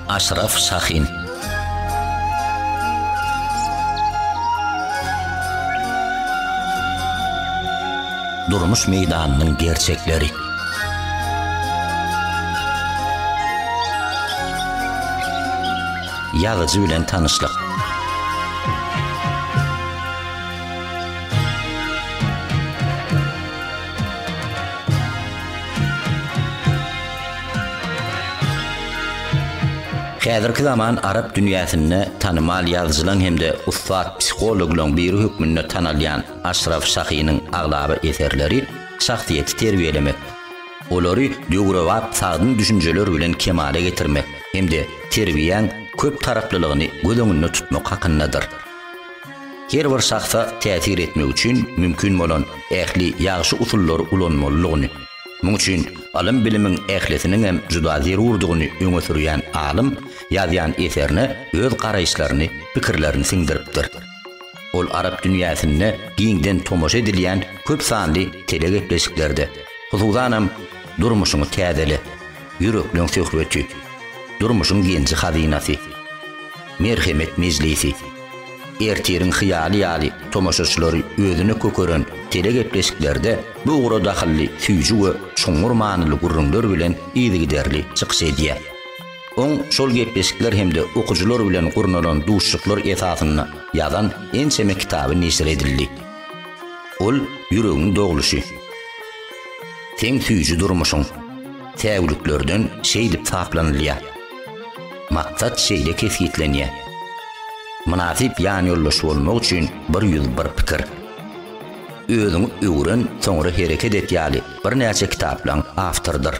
Aşraf Şahin Durmuş meýdanynyň gerçekleri Ýazyjy bilen tanyşlyk. Häzirki zaman arap dünýäsinde tanymal ýazyjylaň hem-de ussat psihologlaň biri hökmünde tanalýan Aşraf Şahynyň aglaba eserleri Şahsyýeti terbiýelemek, olary döwrebap sagdyn düşünjeler bilen kemala getirmek hem-de terbiýäň köp taraplylygyny göz öňünde tutmak hakyndadyr. Her bir şahsa täsir etmek üçin mümkin bolan ähli ýagşy usullary ulanmalydygyny, muň üçin ylym-bilimiň ählisiniň hem juda zerurdygyny öňe sürýän alym ýazýan eserine öz garaýyşlaryny, pikirlerini siňdiripdir. Ol arap dünýäsinde giňden tomaşa edilýän köp sanly telegepleşiklerde, hususanam Durmuşyňy täzele, Ýürekleň söhbeti, Durmuşyň genji hazynasy, Merhemet mejlisi, Ertiriň hyýaly ýaly tomaşaçylary özüne kökeren telegepleşiklerde bu ugra dahylly süýji we çuňňur manyly gürrüňler bilen yzygiderli çykyş edýär. Oň şol gepleşikler hem-de okyjylar bilen gurnalan duşuşyklar esasynda ýazan ençeme kitaby neşir edildi. Ol Ýüregiň dogluşy, Seň süýji durmuşyň, Säwliklerden şeýdip saplanylýar, Maksat şeýle kesgitlenýär, Mynasyp ýanýoldaş bolmak üçin bir ýüz bir pikir, Özüňi öwren, soňra hereket et ýaly birnäçe kitaplaryň awtorydyr.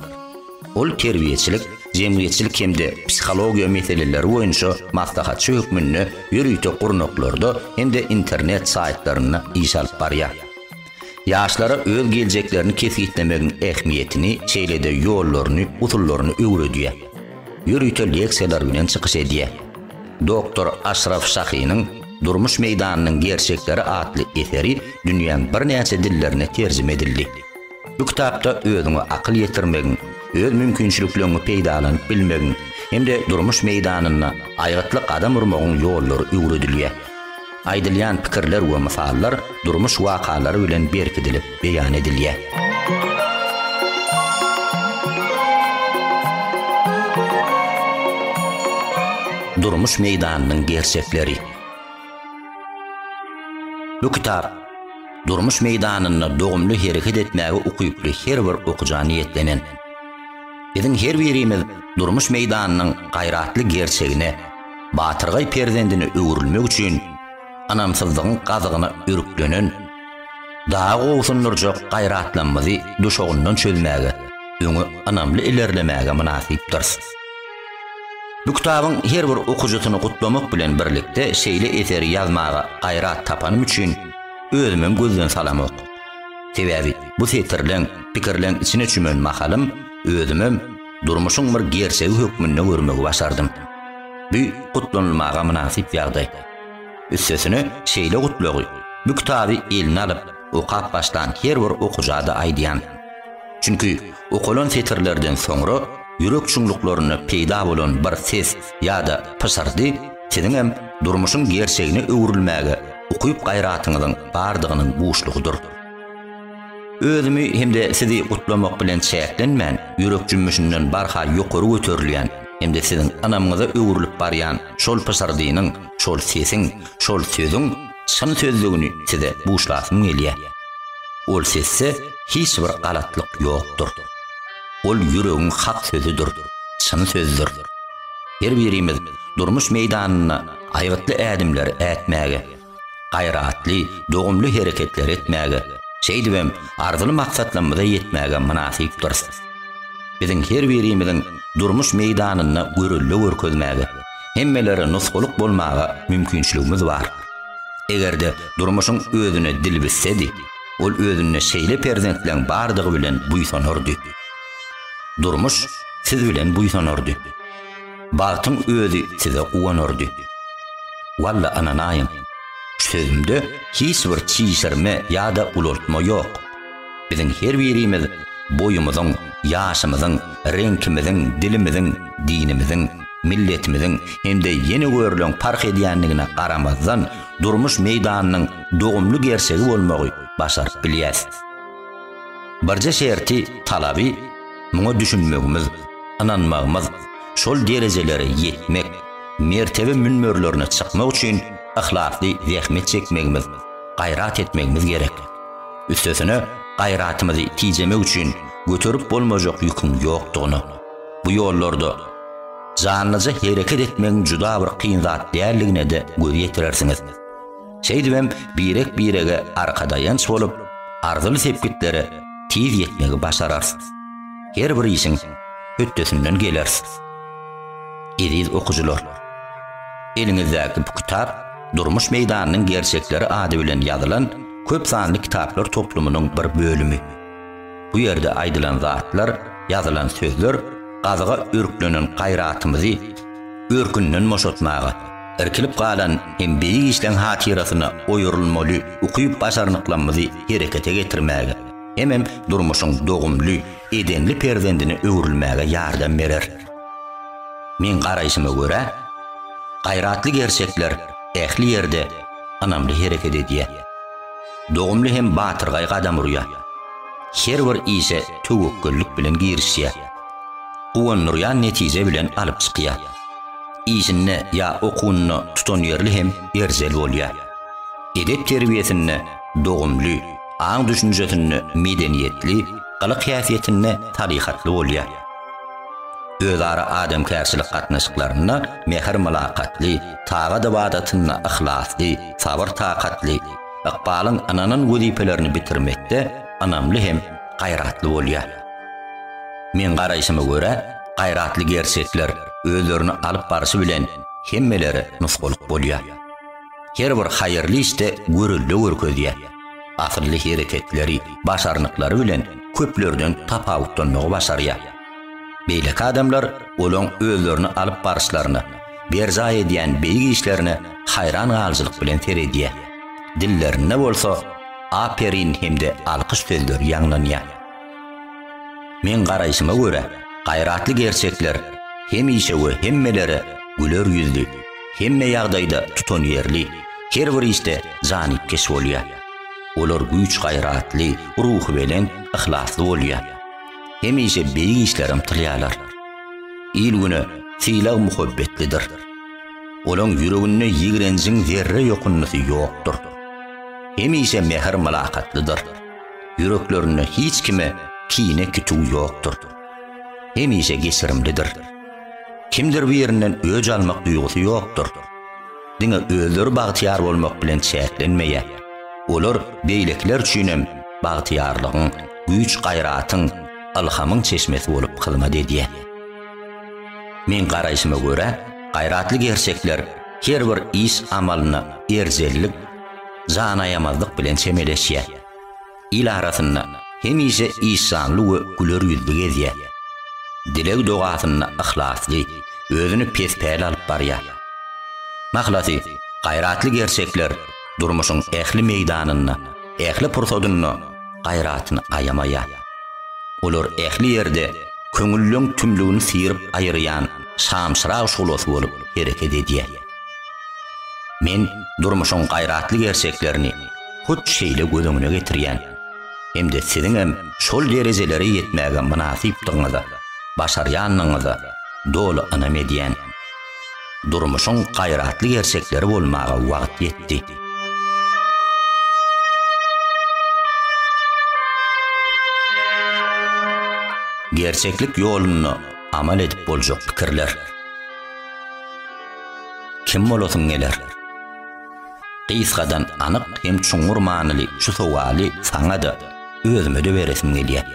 Ol terbiýeçilik, jemgyýetçilik hem-de psihologiýa meseleleri boýunça maslahatçy hökmünde ýörite gurnaklarda hem-de internet saýtlarynda iş alyp barýar. Ýaşlara öz geljeklerini kesgitlemegiň ähmiýetini, şeýle-de ýollaryny, usullaryny öwredýär. Ýörite leksiýalar bilen çykyş edýär. Doktor Aşraf Şahynyň Durmuş meýdanynyň gerçekleri atly eseri dünýäň birnäçe dillerine terjime edildi. Bu kitapda özüňe akyl ýetirmegiň, öz mümkinçilikleňňi peýdalanyp bilmegiň hem-de durmuş meýdanynda aýgytly gadam urmagyň ýollary öwredilýär. Aýdylýan pikirler we mysallar durmuş wakalary bilen berkidilip beýan edilýär. Durmuş meýdanynyň gerçekleri. Bu kitap. durmuş meýdanynda dogumly hereket etmäge ukyply her bir okyja niýetlenen. Biziň her birimiz durmuş meýdanynyň gaýratly gerçegine, batyrgaý perzendine öwrülmek üçin ynamsyzlygyň gazygyna örüklenen, dagy gobsundyrjak gaýratlanmady duşagyndan çözmäge, öňe ynamly ilerlemäge mynasypdyrys. Bu kitabyň her bir okyjysyny gutlamak bilen birlikde şeýle eseri ýazmaga gaýrat tapanym üçin özümem gözden salamok. Sebäbi bu setirleň, pikirleň içine çümen mahalym özümem durmuşyň bir gerçegi hökmünde görmegi başardym. Bu gutlanylmaga mynasyp ýagdaý. Üstesine şeýle gutlagy bu kitaby eline alyp okap başlan her bir okyja-da aýdýan. Çünki Okalan setirlerden soňra ýürek çuňluklarynda peýda bolan bir ses ýa-da pyşyrdy siziňem durmuşyň gerçegine öwrülmäge ukyp-gaýratyňyzyň bardygynyň buşlugydyr. Özümi hem-de sizi gutlamak bilen çäklenmän, ýürek jümmüşinden barha ýokary göterilýän hem-de siziň ynamyňyza öwrülip barýan şol pyşyrdynyň, şol sesiň, şol sözüň, Çyn sözlügini size buşlasym gelýär. Ol sesde hiç bir galatlyk ýokdur. Ol ýüregiň hak sözüdir, çyn sözdür. Her birimiz durmuş meýdanynda aýgytly ädimler ätmäge, gaýratly, dogumly hereketler etmäge, şeýdibem arzyly maksatlarymyza ýetmäge mynasypdyrys. Biziň her birimiziň durmuş meýdanynda görelde görkezmäge, hemmelere nusgalyk bolmaga mümkinçiligimiz bar. Eger-de durmuşyň özüne dil bitsedi, ol özünde şeýle perzentleň bardygy bilen buýsanardy. Durmuş siz bilen buýsanardy. Bagtyň özi size guwanardy. Walla ynanaýyň, şu sözümde hiç bir çişirme ýa-da ulaltma ýok. Biziň her birimiz boýumyzyň, ýaşymyzyň, reňkimiziň, dilimiziň, dinimiziň, milletimiziň hem-de ýene görülen parh edýändigine garamazdan, durmuş meýdanynyň dogumly gerçegi bolmagy başaryp bilýäs. Birje şerti, talaby, muňa düşünmegimiz, ynanmagymyz, şol derejelere ýetmek, mertebe münberlerine çykmak üçin yhlasly zähmet çekmegimiz, gaýrat etmegimiz gerek. Üstesine, gaýratymyzy tijemek üçin göterip bolmajak ýüküň ýokdugyny, bu ýollarda janlyja hereket etmegiň juda bir kyn zat däldigine-de göz ýetirersiňiz. Şeýdibem birek-birege arkadaýanç bolup, arzyly sepgitlere tiz ýetmegi başararys. Her bir işiň hötdesinden geleris. Eziz okyjylar! Eliňizdäki bu kitap Durmuş meýdanynyň gerçekleri ady bilen ýazylan köp sanly kitaplar toplumynyň bir bölümi. Bu ýerde aýdylan zatlar, ýazylan sözler gazyga örklenen gaýratymyzy örkünden boşatmaga, irkilip galan hem beýik işleň hatyrasyna oýarylmaly ukyp-başarnyklamyzy herekete getirmäge, hemem durmuşyň dogumly, edenli perzendine öwrülmäge ýardam berer. Meň garaýşyma görä, gaýratly gerçekler, ähli ýerde ynamly hereket edýär. Dogumly hem batyrgaý gadam urýar. Her bir işe töwekgellik bilen girişýär. Guwandyrýan netije bilen alyp çykýar. Işinde ýa okuwynda tutanýerli hem erjel bolýar. Edep-terbiýesinde dogumly, aň-düşünjesinde medeniýetli, gylyk-häsiýetinde salyhatly bolýar. Özara adamkärçilik gatnaşyklarynda mähir-mylakatly, tagat ybadatynda yhlasly, sabyr-takatly, ykbalyň ynanan wezipelerini bitirmekde ynamly hem gaýratly bolýar. Meň garaýşyma görä, gaýratly gerçekler özlerini alyp baryşy bilen hemmelere nusgalyk bolýar. Her bir haýyrly işde görelde görkezýär. Asylly hereketleri, başarnyklary bilen köplerden tapawutlanmagy başarýar. Beýleki adamlar olaň özlerini alyp baryşlaryna, berjaý edýän beýik işlerine haýran galyjylyk bilen seredýär. Dillerinde bolsa Aperin hem-de alkyş sözleri ýaňlanýar. Meň garaýşyma görä, gaýratly gerçekler hemişe we hemmelere güler ýüzli, hemme ýagdaýda tutanýerli, her bir işde janypkeş bolýar. Olar güýç-gaýratly, ruhubelent, yhlasly bolýar. Hemişe beýik işleri ymtylýarlar. Il-güne sylag-muhabbetlidir. Olaň ýüreginde ýigrenjiň zerre ýokunnysy ýokdur. Hemişe mähir-mylakatlydyr. Ýüreklerinde hiç kime kine kütüw ýokdur. Hemişe geçirimlidir. Kimdir birinden öç almak duýgusy ýokdur. Diňe özleri bagtyýar bolmak bilen çäklenmeýär. Olar beýlekiler üçin hem bagtyýarlygyň, güýç-gaýratyň, ylhamyň çeşmesi bolup hyzmat edýär. Meň garaýşyma görä, gaýratly gerçekler her bir iş-amalyna erjellik, janaýamazlyk bilen çemeleşýär. Il arasynda hemişe işjanly we güler ýüzli gezýär. Dileg-dogasynda yhlasly, özüni pes-päli alyp barýar. Mahlasy, gaýratly gerçekler durmuşyň ähli meýdanynda, ähli pursadynda gaýratyny aýamaýar. Olar ähli ýerde köňülleriň tümlügini syryp aýyrýan şamçyrag şuglasy bolup hereket edýär. Men durmuşyň gaýratly gerçeklerini, hut şeýle göz öňüne getirýän hem-de siziňem şol derejelere ýetmäge mynasypdygyňyza, başarýandygyňyza doly ynam edýän. Durmuşyň gaýratly gerçekleri bolmaga wagt ýetdi. Gerçeklik ýolunda amal edip boljak pikirler. Kim bolasyň geler? Gysgadan anyk hem çuňňur manyly şu sowaly saňa-da, özüme-de beresim gelýär.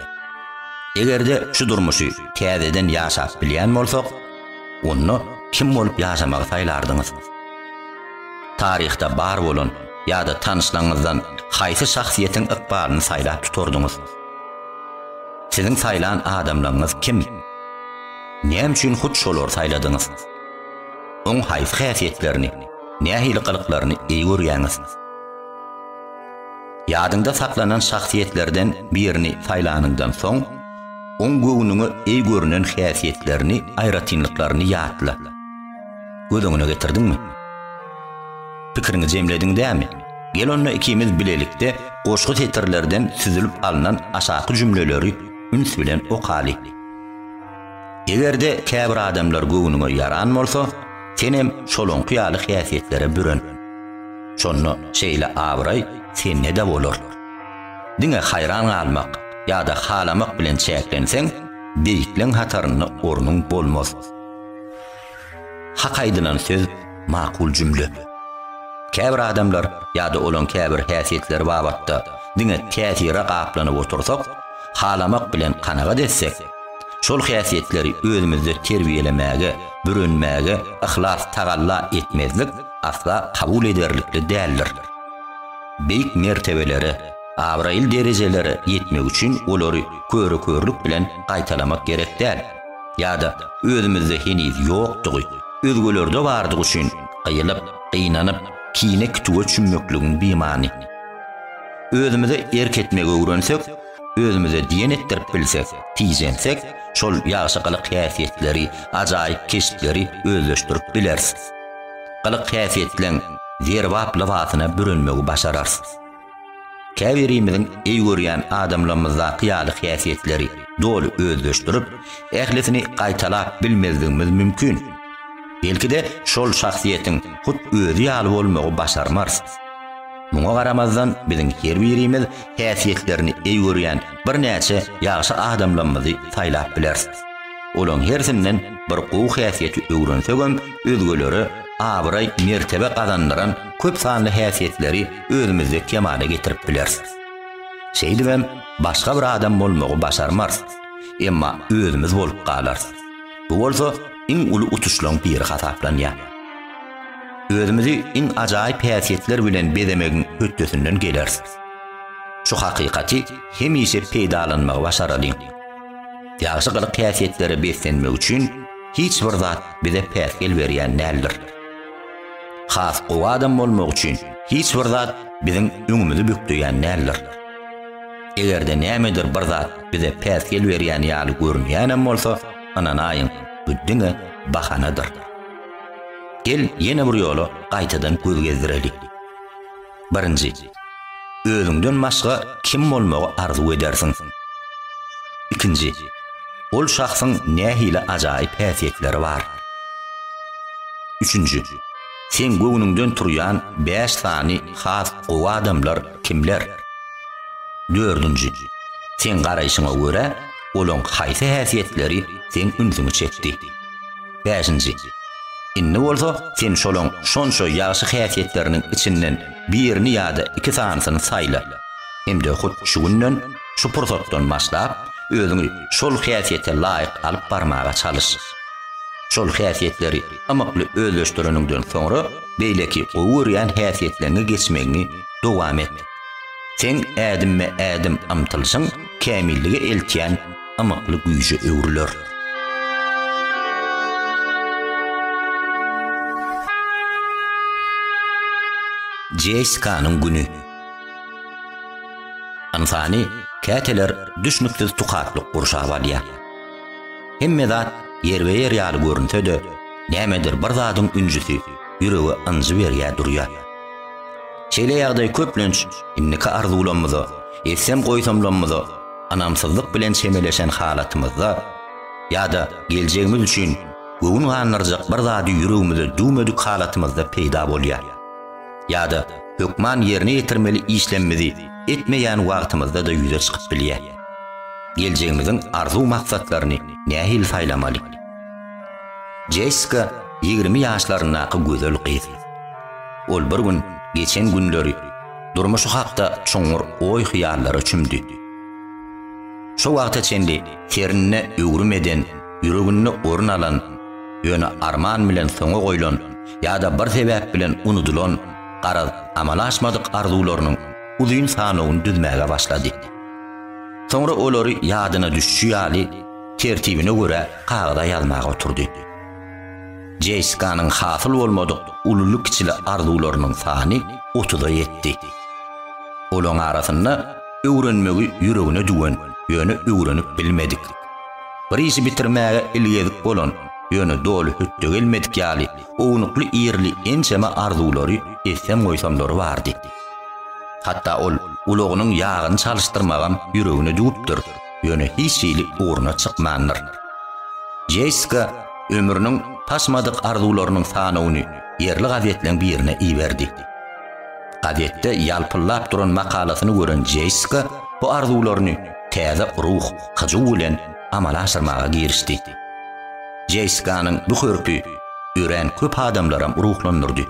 Eger-de şu durmuşy täzeden ýaşap bilýän bolsak, onda kim bolup ýaşamagy saýlardyňyz? Taryhda bar bolan ýa-da tanyşlaryňyzdan haýsy şahsyýetiň ykbalyny saýlap tutardyňyz? Siziň saýlan adamlaryňyz kim? Näme üçin hut şolary saýladyňyz? Oň haýsy häsiýetlerini? nähili gylyklaryny eý görýäňiz? Ýadyňda saklanan şahsyýetlerden birini saýlanyňdan soň, oň göwnüňe eý görünen häsiýetlerini, aýratynlyklaryny ýatla. Göz öňüne getirdiňmi? Pikiriňi jemlediň dämi? Gel onda ikimiz bilelikde goşgy setirlerden süzülip alnan aşaky jümleleri üns bilen okaly. Eger-de käbir adamlar göwnüňe ýaran bolsa, senem şolaňky ýaly häsiýetlere büren. Şonda şeýle abraý sende-de bolar. Diňe haýran galmak ýa-da halamak bilen çäklenseň, beýikleň hatarynda ornuň bolmaz. Hak aýdylan söz, makul jümle. Käbir adamlar ýa-da olaň käbir häsiýetleri babatda diňe täsire gaplanyp otursak, halamak bilen kanagat etsek, şol häsiýetleri özümizde terbiýelemäge, bürenmäge yhlas tagalla etmezlik asla kabul ederlikli däldir. Beýik mertebelere, abraýly derejelere ýetmek üçin olary köre-körlük bilen gaýtalamak gerek däl. ýa-da özümizde heniz ýokdugy, özgelerde bardygy üçin gyýylyp, gynanyp, kine-kütüge çümmekligiň bimany. Özümize erk etmegi öwrensek, özümize diýen etdirip bilsek, tijensek, şol ýagşy gylyk-häsiýetleri, ajaýyp keşpleri özleşdirip bileris. Gylyk-häsiýetleň zerbap lybasyna bürenmegi başararys. Käbirimiziň eý görýän adamlarymyzdaky ýaly häsiýetleri doly özleşdirip, ählisini gaýtalap bilmezligimiz mümkin. Belki-de, şol şahsyýetiň hut özi ýaly bolmagy başarmarys. Muňa garamazdan, biziň her birimiz häsiýetlerini eý görýän birnäçe ýagşy adamlarymyzy saýlap bileris. Olaryň hersinden bir gowy häsiýeti öwrensegem, özgelere abraý-mertebe gazandyran köp sanly häsiýetleri özümizde kemala getirip bileris. Şeýdibem, başga bir adam bolmagy başarmarys, emma özümiz bolup galarys. Bu bolsa iň uly utuşlaryň biri hasaplanýar. Özümizi iň ajaýyp häsiýetler bilen bezemegiň hötdesinden geleris. Şu hakykaty hemişe peýdalanmagy başaralyň. Ýagşy gylyk-häsiýetlere beslenmek üçin hiç bir zat bize päsgel berýän däldir. Has gowy adam bolmak üçin hiç bir zat biziň öňümizi bükleýän däldir. Eger-de nämedir bir zat bize päsgel berýän ýaly görünýänem bolsa, ynanaýyň, bu diňe bahanadyr. Gel, ýene bir ýola gaýtadan göz gezdireli. Birinji, özüňden başga kim bolmagy arzuw edersiň? Ikinji, ol şahsyň nähili ajaýyp häsiýetleri bar? Üçünji, seň göwnüňden turýan bäş sany has gowy adamlar kimler? Dördünji, seň garaýşyňa görä, olaň haýsy häsiýetleri seň ünsüňi çekdi? Bäşinji. Indi bolsa sen şolaň şonça ýagşy häsiýetleriniň içinden birini ýa-da iki sanysyny saýla. Hem-de hut şu günden, şu pursatdan başlap, özüňi şol häsiýete laýyk alyp barmaga çalyş. Şol häsiýetleri ymykly özleşdireniňden soňra, beýleki gowy görýän häsiýetleňe geçmegiňi dowam et. Seň ädimme-ädim ymtylyşyň kämillige eltýän ymykly güýje öwrüler. Jeýskanyň güni. Ynsany käteler düşnüksiz tukatlyk gurşap alýar. Hemme zat ýerbe-ýer ýaly görünse-de, nämedir bir zadyň ünjüsi ýürege ynjy berýär durýar. Şeýle ýagdaý köplenç indiki arzuwlarymyza, etsem goýsamlarymyza ynamsyzlyk bilen çemeleşen halatymyzda ýa-da geljegimiz üçin göwün gandyrjak bir zady ýüregimize düwmedik halatymyzda peýda bolýar. Ýa-da hökman ýerine ýetirmeli işlemmizi etmeýän wagtymyzda-da ýüze çykyp bilýär. Geljegimiziň arzuw-maksatlaryny nähili saýlamaly? Jessika ýigrimi ýaşlaryndaky gözel gyz. Ol bir gün geçen günleri, durmuşy hakda çuňňur oý-hyýallara çümdi. Şu wagta çenli terinde öwrüm eden, ýüreginde orun alan, ýöne arman bilen soňa goýlan ýa-da bir sebäp bilen unudylan, garaz, amala aşmadyk arzuwlarynyň uzyn sanawyny düzmäge başlady. Soňra olary ýadyna düşşi ýaly, tertibine görä kagyza ýazmaga oturdy. JSK-nyň hasyl bolmadyk ululy-kiçili arzuwlarynyň sany otuza ýetdi. Olaň arasynda öwrenmegi ýüregine düwen, ýöne öwrenip bilmedik, bir işi bitirmäge ilgezik bolan, ýöne doly hötde gelmedik ýaly ownukly-irili ençeme arzuwlary etsem-goýsamlary bardy. Hatda ol ulagynyň ýagyny çalyşdyrmagam ýüregine düwüpdir. ýöne hiç hili ugruna çykmandyr. Jessika ömrüniň paşmadyk arzuwlarynyň sanawyny ýerli gazetleň birine iberdi. Gazetde ýalpyllap duran makalasyny gören Jessika bu arzuwlaryny täze ruh, hyjuw bilen amala aşyrmaga girişdi. Jessikanyň bu hörpi örän köp adamlaram ruhlandyrdy.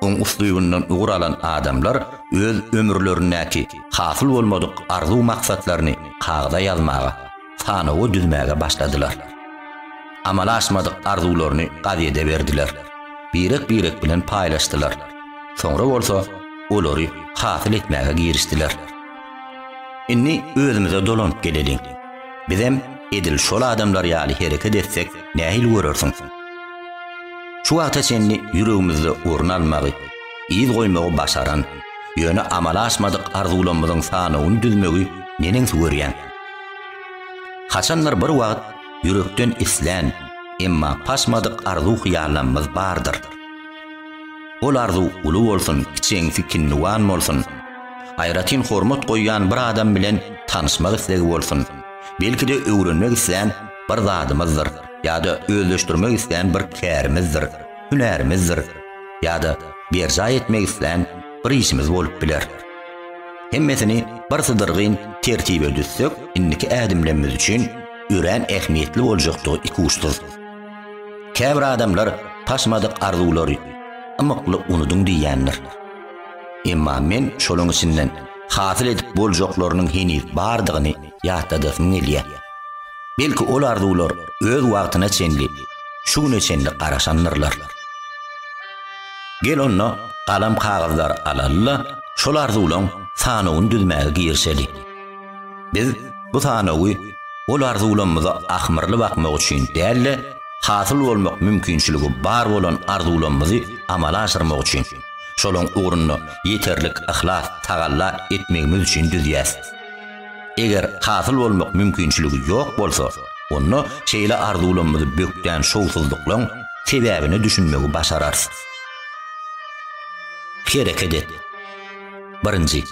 Oň uslubyndan ugur alan adamlar öz ömürlerindäki hasyl bolmadyk arzuw-maksatlaryny kagyza ýazmaga, sanawa düzmäge başladylar. Amala aşmadyk arzuwlaryny gazede berdiler, birek-birek bilen paýlaşdylar, soňra bolsa olary hasyl etmäge girişdiler. Indi özümize dolanyp geleliň. Bizem edil şol adamlar ýaly hereket etsek nähili görersiň? Şu wagta çenli ýüregimizde orun almagy, yz goýmagy başaran, ýöne amala aşmadyk arzuwlamyzyň sanawyny düzmegi neneňsi görýän. Haçandyr bir wagt ýürekden islän, emma paşmadyk arzuw-hyýallamyz bardyr. Ol arzuw uly bolsun, kiçeňsi kinniwan bolsun, aýratyn hormat goýýan bir adam bilen tanyşmak islegi bolsun, belki-de öwrenmek islän bir zadymyzdyr ýa-da özleşdirmek islän bir kärimizdir, hünärimizdir ýa-da berjaý etmek islän bir işimiz bolup biler. Hemmesini bir sydyrgyn tertibe düzsek, indiki ädimlemmiz üçin örän ähmiýetli boljakdygy ikuçsyz. Käbir adamlar Paşmadyk arzuwlary ymykly unudyň diýýändir. Emma men şolaň içinden hasyl edip boljaklarynyň heniz bardygyny ýatladasym gelýär. Belki ol arzuwlar öz wagtyna çenli şu güne çenli garaşandyrlar. Gel onda galam kagyzlary alalyda şol arzuwlaň sanawyny düzmäge girişeli. Biz bu sanawy ol arzuwlamyza ahmyrly bakmak üçin dälde hasyl bolmak mümkinçiligi bar bolan arzuwlamyzy amala aşyrmak üçin şolaň ugrunda ýeterlik yhlas tagalla etmegimiz üçin düzýäs. Eger hasyl bolmak mümkinçiligi ýok bolsa, onda şeýle arzuwlarymyzy bökden şowsuzlyklaryň sebäbine düşünmegi başararys. Hereket et. Birinji,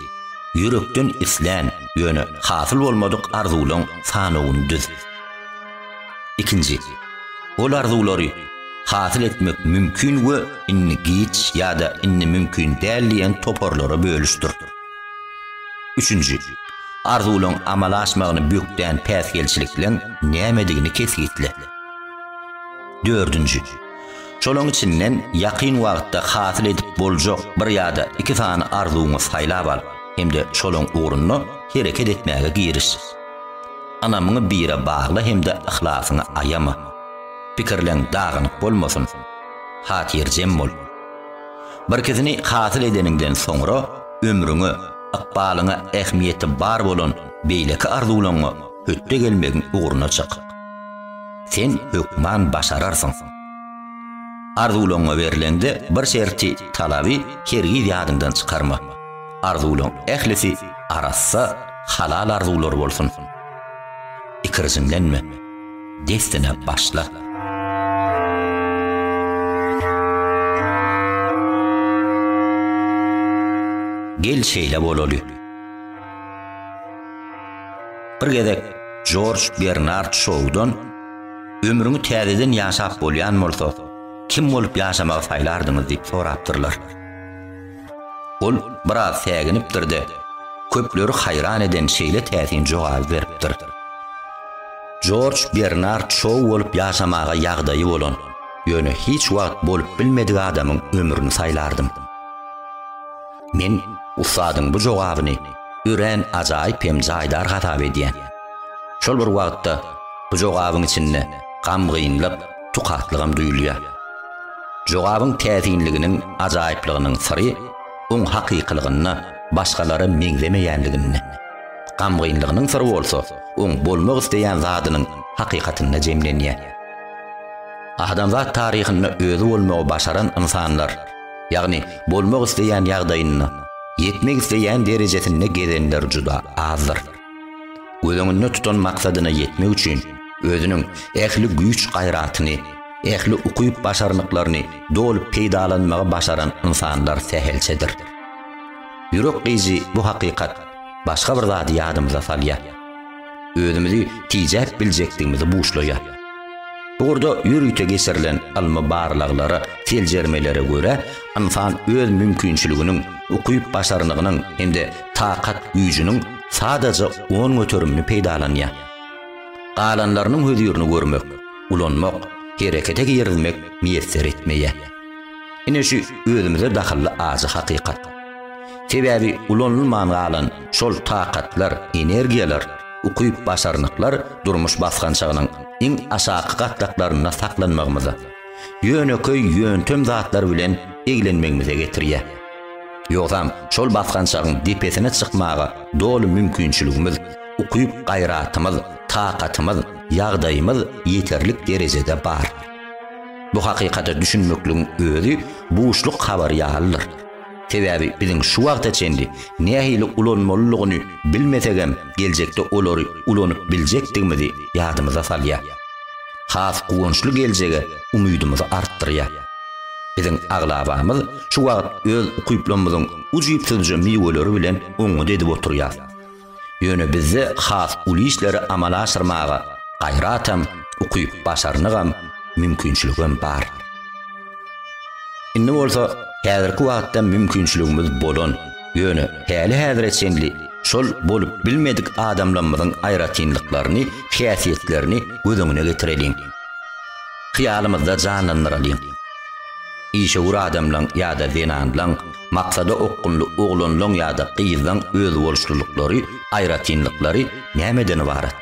ýürekden islän, ýöne hasyl bolmadyk arzuwlaryň sanawyny düz. Ikinji, ol arzuwlary hasyl etmek mümkin we indi giç ýa-da indi mümkin däl diýen toparlara bölüşdir. Üçünji, arzuwlaryň amala aşmagyny bökdän päsgelçilikleriň nämedigini kesgitle. Dördünji, şolaryň içinden ýakyn wagtda hasyl edip boljak bir ýa-da iki sany arzuwyňy saýlap al hem-de şolaryň ugrunda hereket etmäge giriş. Ynamyňy bire bagla hem-de yhlasyňy aýama. Pikirleriň dagynyk bolmasyn. Hatyrjem bol. Birkisini hasyl edeniňden soňra ömrüňe, ykbalyňa ähmiýeti bar bolan beýleki arzuwlaňňa hötde gelmegiň ugruna çyk. Sen hökman başararsyň. Arzuwlaňňa berleňde bir şerti, talaby hergiz ýadyňdan çykarma. Arzuwlaň ählisi arassa, halal arzuwlar bolsun. Ikirjiňlenme. Dessine başla. Gel şeýle bolaly. Bir gezek George Bernard Shawdan ömrüňi täzeden ýaşap bolýan bolsa, kim bolup ýaşamagy saýlardyňyz diýip sorapdyrlar. Ol biraz säginipdir-de, köpleri haýran eden şeýle täsin jogaby beripdir. Jorj Bernard Şou bolup ýaşamaga ýagdaýy bolan, ýöne hiç wagt bolup bilmedik adamyň ömrüni saýlardym. Men ussadyň bu jogabyny örän ajaýyp hem jaýdar hasap edýän. Şol bir wagtda bu jogabyň içinde gamgynlyk, tukatlygam duýulýar. Jogabyň täsinliginiň ajaýyplygynyň syry oň hakykylygynda, başgalara meňzemeýänliginde. Gamgynlygynyň syry bolsa oň bolmak isleýän zadynyň hakykatynda jemlenýär. Adamzat taryhynda özi bolmagy başaran ynsanlar, ýagny bolmak isleýän ýagdaýynda, ýetmek isleýän derejesinde gezenler juda azdyr. Göz öňünde tutan maksadyna ýetmek üçin özüniň ähli güýç-gaýratyny, ähli ukyp-başarnyklaryny doly peýdalanmagy başaran ynsanlar sähelçedir. Ýürek gyýyjy bu hakykat başga bir zady ýadymyza salýar. Özümizi tijäp biljekdigimizi buşlaýar. Bu ugurda ýörite geçirilen ylmy barlaglara, seljermelere görä, ynsan öz mümkinçiliginiň, ukyp-başarnygynyň hem-de takat güýjüniň sadaja on göterimini peýdalanýar. Galanlarynyň hözirini görmek, ulanmak, herekete girizmek miýesser etmeýär. Ine şu özümize dahylly ajy hakykat. Sebäbi ulanylman galan şol takatlar, energiýalar, ukyp-başarnyklar durmuş basgançagynyň iň aşaky gatlaklarynda saklanmagymyza, ýönekeý ýöntem zatlar bilen eglenmegimize getirýär. Ýogsam, şol basgançagyň depesine çykmaga doly mümkinçiligimiz, ukyp-gaýratymyz, takatymyz, ýagdaýymyz ýeterlik derejede bar. Bu hakykata düşünmekligiň özi buşluk habary ýalydyr. Sebäbi biziň şu wagta çenli nähili ulanmalylygyny bilmesegem geljekde olary ulanyp biljekdigimizi ýadymyza salýar. Has guwançly geljege umydymyzy artdyrýar. Biziň aglabamyz şu wagt öz ukyplarymyzyň ujypsyzja miweleri bilen oňňut edip oturýar. Ýöne bizde has uly işleri amala aşyrmaga gaýratam, ukyp-başarnygam, mümkinçiligem bar. Indi bolsa häzirki wagtda mümkinçiligimiz bolan, ýöne häli-häzire çenli şol bolup bilmedik adamlamyzyň aýratynlyklaryny, häsiýetlerini göz öňüne getireliň. Hyýalymyzda janlandyralyň. Işewür adamlaň ýa-da zenanlaň Maksada okgunly oglanlaň ýa-da gyzlaň özboluşlylyklary, aýratynlyklary nämeden ybarat?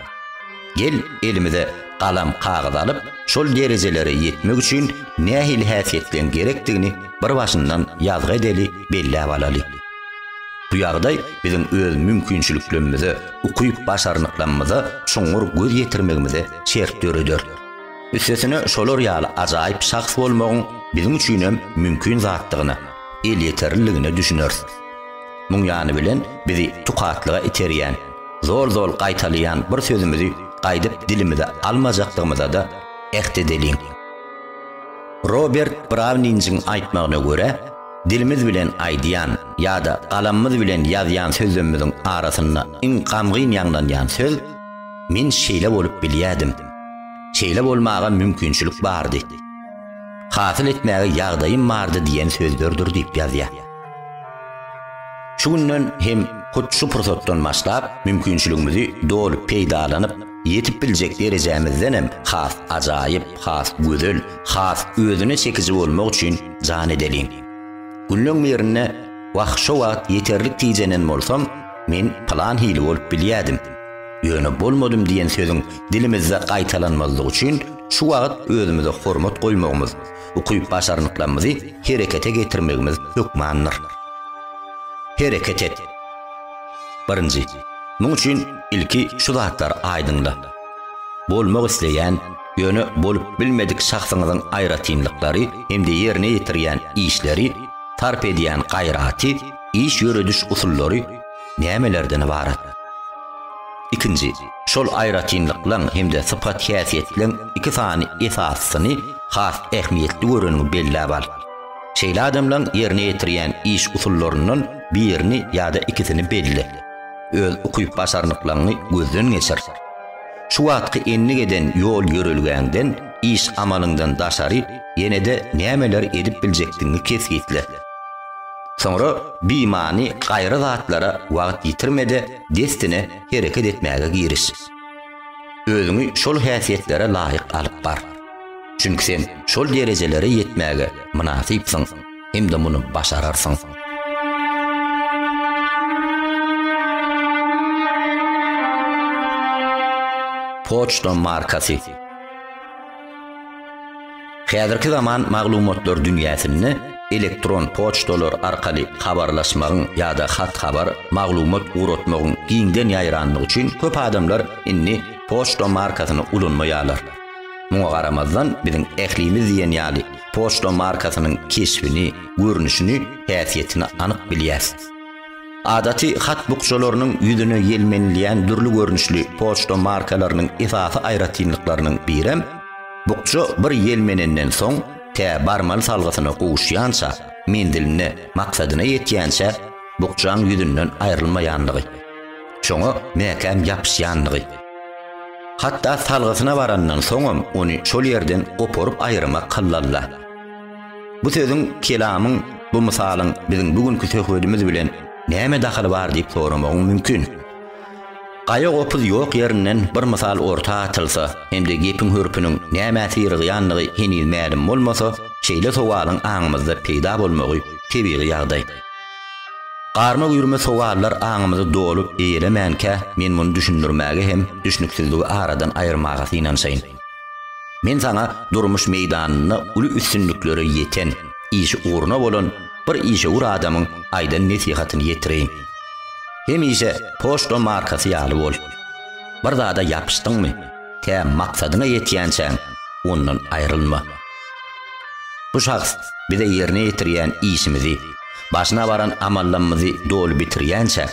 Gel, elimize galam, kagyz alyp, şol derejelere ýetmek üçin nähili häsiýetleň gerekdigini bir başyndan ýazgy edeli, belläp alaly. Bu ýagdaý biziň öz mümkinçiliklemmize, ukyp-başarnyklamyza çuňňur göz ýetirmegimize şert döreder. Üstesine şolar ýaly ajaýyp şahs bolmagyň biziň üçinem mümkin zatdygyna, elýeterliligine düşüneris. Muň ýany bilen bizi tukatlyga iterýän, zol-zol gaýtalaýan bir sözümizi gaýdyp dilimize almajakdygymyzada äht edeliň. Robert Browninjiň aýtmagyna görä, dilimiz bilen aýdýan ýa-da galamymyz bilen ýazýan sözlemimiziň arasynda iň gamgyn ýaňlanýan söz Men şeýle bolup bilýädim. Şeýle bolmaga mümkinçilik bardy. Hasyl etmäge ýagdaýym bardy diýen sözlerdir diýip ýazýar. Şu günden hem hut şu pursatdan başlap mümkinçiligimizi doly peýdalanyp, ýetip biljek derejämizden hem has ajaýyp, has gözel, has özüne çekiji bolmak üçin jan edeliň. Günleň birinde, Wah, şo wagt ýeterlik tijenen bolsam, men pylan hili bolup bilýädim. Ýöne bolmadym diýen sözüň dilimizde gaýtalanmazlygy üçin şu wagt özümize hormat goýmagymyz, ukyp-başarnyklarymyzy herekete getirmegimiz hökmandyr. Hereket et! Birinji, muň üçin ilki şu zatlary aýdyňla. Bolmak isleýän, ýöne bolup bilmedik şahsyňyzyň aýratynlyklary hem-de ýerine ýetirýän işleri, sarp edýän gaýraty, iş ýörediş usullary, nämelerden ybarat? Ikinji, şol aýratynlyklaň hem-de sypat-häsiýetleň iki sany esasyny has ähmiýetli göreniňi belläp al. Şeýle adamlaň ýerine ýetirýän iş usullaryndan birini ýa-da ikisini belle. Öz ukyp-başarnyklaňy gözden geçir. Şu wagtky endik eden ýol-ýörelgäňden, iş-amalyňdan daşary ýene-de nämeler edip biljekdigiňi kesgitle. Soňra bimany gaýry zatlara wagt ýitirme-de, dessine hereket etmäge giriş. Özüňi şol häsiýetlere laýyk alyp bar. Çünki sen şol derejelere ýetmäge mynasypsyň hem-de muny başararsyň. Poçta markasy. Häzirki zaman maglumatlar dünýäsinde elektron poçtalar arkaly habarlaşmagyň ýa-da hat-habar, maglumat ugratmagyň giňden ýaýrandygy üçin köp adamlar indi poçta markasyny ulanmaýarlar. Muňa garamazdan, biziň ählimiz diýen ýaly poçta markasynyň keşbini, görnüşini, häsiýetini anyk bilýäs. Adaty hat bukjalarynyň ýüzüne ýelmenilýän dürli görnüşli poçta markalarynyň esasy aýratynlyklarynyň birem, bukja bir ýelmenenden soň, tä barmaly salgysyna gowuşýança, menziline, maksadyna ýetýänçä bukjaň ýüzünden aýrylmaýanlygy, şoňa mäkäm ýapyşýanlygy. Hatda salgysyna barandan soňam ony şol ýerden goparyp aýyrmak hallalla. Bu sözüň, kelamyň, bu mysalyň biziň bu günki söhbedimiz bilen näme dahyly bar diýip soramagyň mümkin. Gaýa-gopuz ýok ýerinden bir mysal orta atylsa hem-de gepiň hörpüniň nämä syrygýandygy heniz mälim bolmasa, şeýle sowalyň aňymyzda peýda bolmagy tebigy ýagdaý. Garma güýrme sowallar aňymyzy dolup eýelemänkä men muny düşündirmäge hem düşnüksizligi aradan aýyrmaga synanşaýyn. Men saňa durmuş meýdanynda uly üstünliklere ýeten, işi ugruna bolan bir işewür adamyň aýdan nesihatyny ýetireýin. Hemişe poçta markasy ýaly bol. Bir zada ýapyşdyňmy, tä maksadyňa ýetýänçäň, ondan aýrylma. Bu şahs bize ýerine ýetirýän işimizi, başyna baran amallamyzy doly bitirýänçä,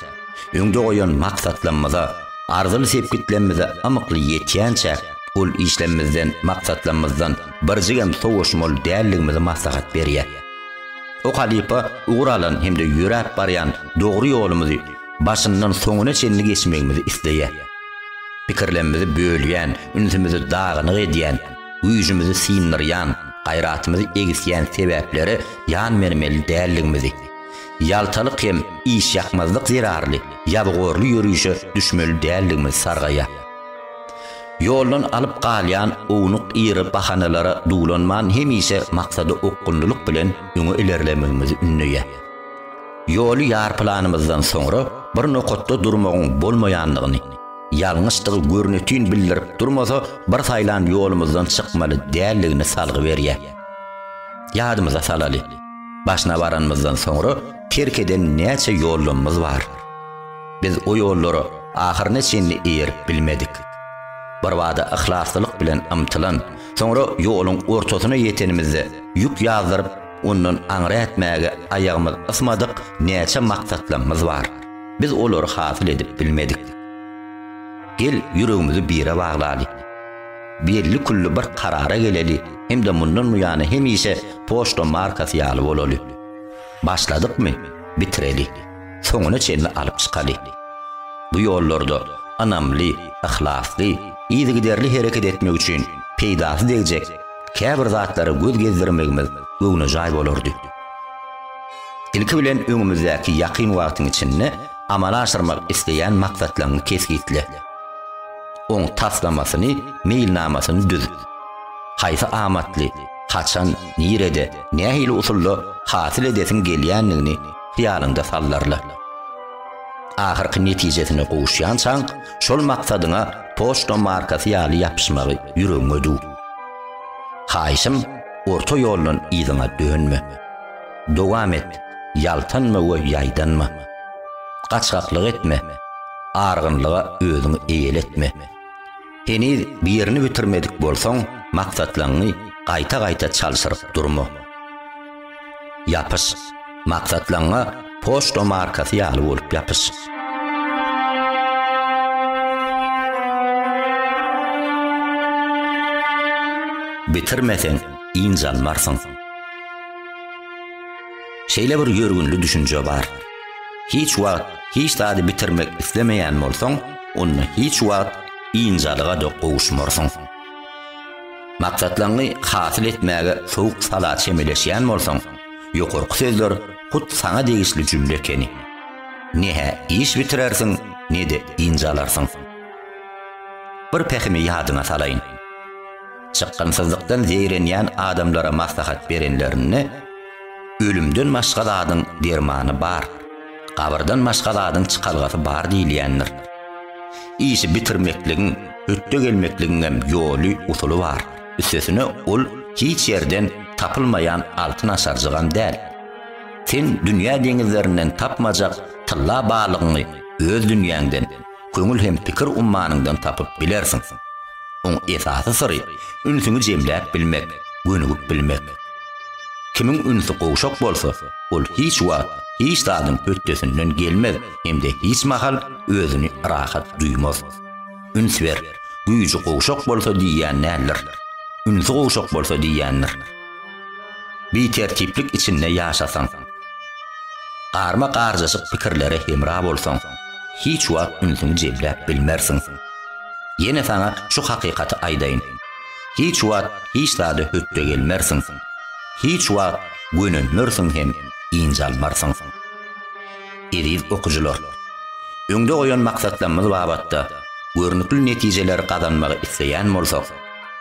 Öňde goýan maksatlamyza, arzyly sepgitlemmize amykly ýetýänçäk, ol işlemimizden, maksatlamyzdan birjigem sowaşmaly däldigimizi maslahat berýär. O halypa ugur alan hem-de ýöräp barýan dogry ýolumyzy başyndan soňuna çenli geçmegimizi isleýär. Pikirlemmizi bölýän, ünsümizi dagynyk edýän, güýjümizi syndyrýan, gaýratymyzy egisýän sebäplere ýan bermeli däldigimizi, Ýaltalyk hem işýakmazlyk zerarly ýabygorly ýörişe düşmeli däldigimiz sargaýar. Ýoldan alyp galýan ownuk ýygy bahanalara duwlanman hemişe maksada okgunlylyk bilen öňe ilerlemegimizi ündeýär. Ýoly ýarpylanymyzdan soňra bir nokatda durmagyň bolmaýandygyny, ýalňyşdygy görnetin bildirip durmasa bir saýlan ýolumyzdan çykmaly däldigini salgy berýär. Ýadymyza salaly, Başyna baranymyzdan soňra terk eden näçe ýollamyz bar. Biz o ýollara ahyryna çenli eýerip bilmedik. Birbada yhlaslylyk bilen ymtylan, soňra ýoluň ortasyna ýetenimizde ýük ýazdyryp, ondan aňry ätmäge aýagymyz ysmadyk näçe maksatlamyz bar. Biz olary hasyl edip bilmedik. Gel ýüregimizi bire baglaly. belli-külli bir karara geleli hem-de mundan buýana hemişe poçta markasy ýaly bolaly. Başladykmy, bitireli, soňuna çenli alyp çykaly. Bu ýollarda ynamly, yhlasly, yzygiderli hereket etmek üçin peýdasy degjek käbir zatlara göz gezdirmegimiz göwnejaý bolardy. Ilki bilen öňümizdäki ýakyn wagtyň içinde amala aşyrmak isleýän maksatlaňy kesgitle. oň taslamasyny, meýilnamasyny düz. Haýsy amatly, haçan, nirede, nähili usulda hasyl edesiň gelýändigini hyýalyňda sallarla. Ahyrky netijesine gowuşýançaň, şol maksadyňa poçta markasy ýaly ýapyşmagy ýüregiňe düw. Haýyşym, orta ýoldan yzyňa dönme. Dowam et, ýaltanma we ýaýdanma. Gaçgaklyk etme, argynlyga özüňi eýletme. Heniz birini bitirmedik bolsaň, maksatlaňňy gaýta-gaýta çalşyryp durma. Ýapyş, maksatlaňňa poçta markasy ýaly bolup ýapyş. bitirmeseň ýnjalmarsyň. Şeýle bir ýörgünli düşünje bar. Hiç wagt hiç zady bitirmek islemeýän bolsaň, onda hiç wagt ynjalyga-da gowuşmarsyň. Maksatlaňňy hasyl etmäge sowuk-sala çemeleşýän bolsaň, ýokarky sözler hut saňa degişli jümle ekeni. Ne-hä iş bitirersiň, ne-de ynjalarsyň. Bir pähimi ýadyňa salaýyn. Çykgynsyzlykdan zeýrenýän adamlara maslahat berenlerinde, Ölümden başga zadyň dermany bar, gabyrdan başga zadyň çykalgasy bar diýilýändir. Işi bitirmekligiň, hötde gelmekligiňem ýoly, usuly bar. Üstesine ol hiç ýerden tapylmaýan altyn aşarjygam däl. Sen dünýä deňizlerinden tapmajak tylla balygyňy öz dünýäňden, köňül hem pikir ummanyňdan tapyp bilersiň. Oň esasy syry ünsüňi jemläp bilmek, gönügip bilmek. Kimiň ünsi gowşak bolsa, ol hiç wagt hiç zadyň hötdesinden gelmez hem-de hiç mahal özüni rahat duýmaz. Üns ber, güýji gowşak bolsa diýýän däldir. Ünsi gowşak bolsa diýýändir. Bitertiplik içinde ýaşasaň, garma-garjaşyk pikirlere hemra bolsaň, hiç wagt ünsüňi jemläp bilmersiň. Ýene saňa şu hakykaty aýdaýyn, hiç wagt hiç zada hötdegelmersiň, hiç wagt gönenmersiň hem ynjalmarsyň. Eziz okyjylar! Öňde goýan maksatlamyz babatda görnükli netijeleri gazanmagy isleýän bolsak,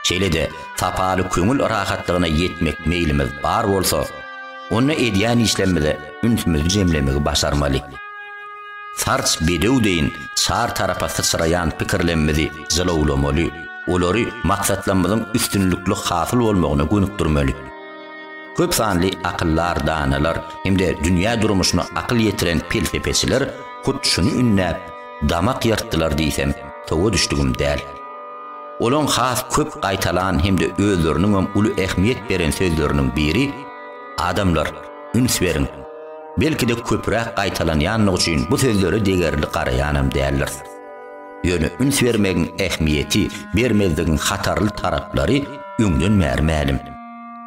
Şeýle-de, sapaly köňül rahatlygyna ýetmek meýlimiz bar bolsa, onda edýän işlerimize ünsümizi jemlemegi başarmaly. Sarç bedew deýin çar tarapa syçraýan pikirlemimizi jylawlamaly, olary maksatlarymyzyň üstünlikli hasyl bolmagyna gönükdirmeli. Köp sanly akyldar danalar hem-de dünýä durmuşyna akyl ýetiren pelsepeçiler hut şuny ündäp, damak ýyrtdylar diýsem, towa düşdügim däl. Olaň has köp gaýtalan hem-de özleriniňem uly ähmiýet beren sözleriniň biri, Adamlar, üns beriň! Belki-de köpräk gaýtalanýanlygy üçin bu sözlere degerli garaýanam däldiris. Ýöne üns bermegiň ähmiýeti, bermezligiň hatarly taraplary öňden bäri mälim.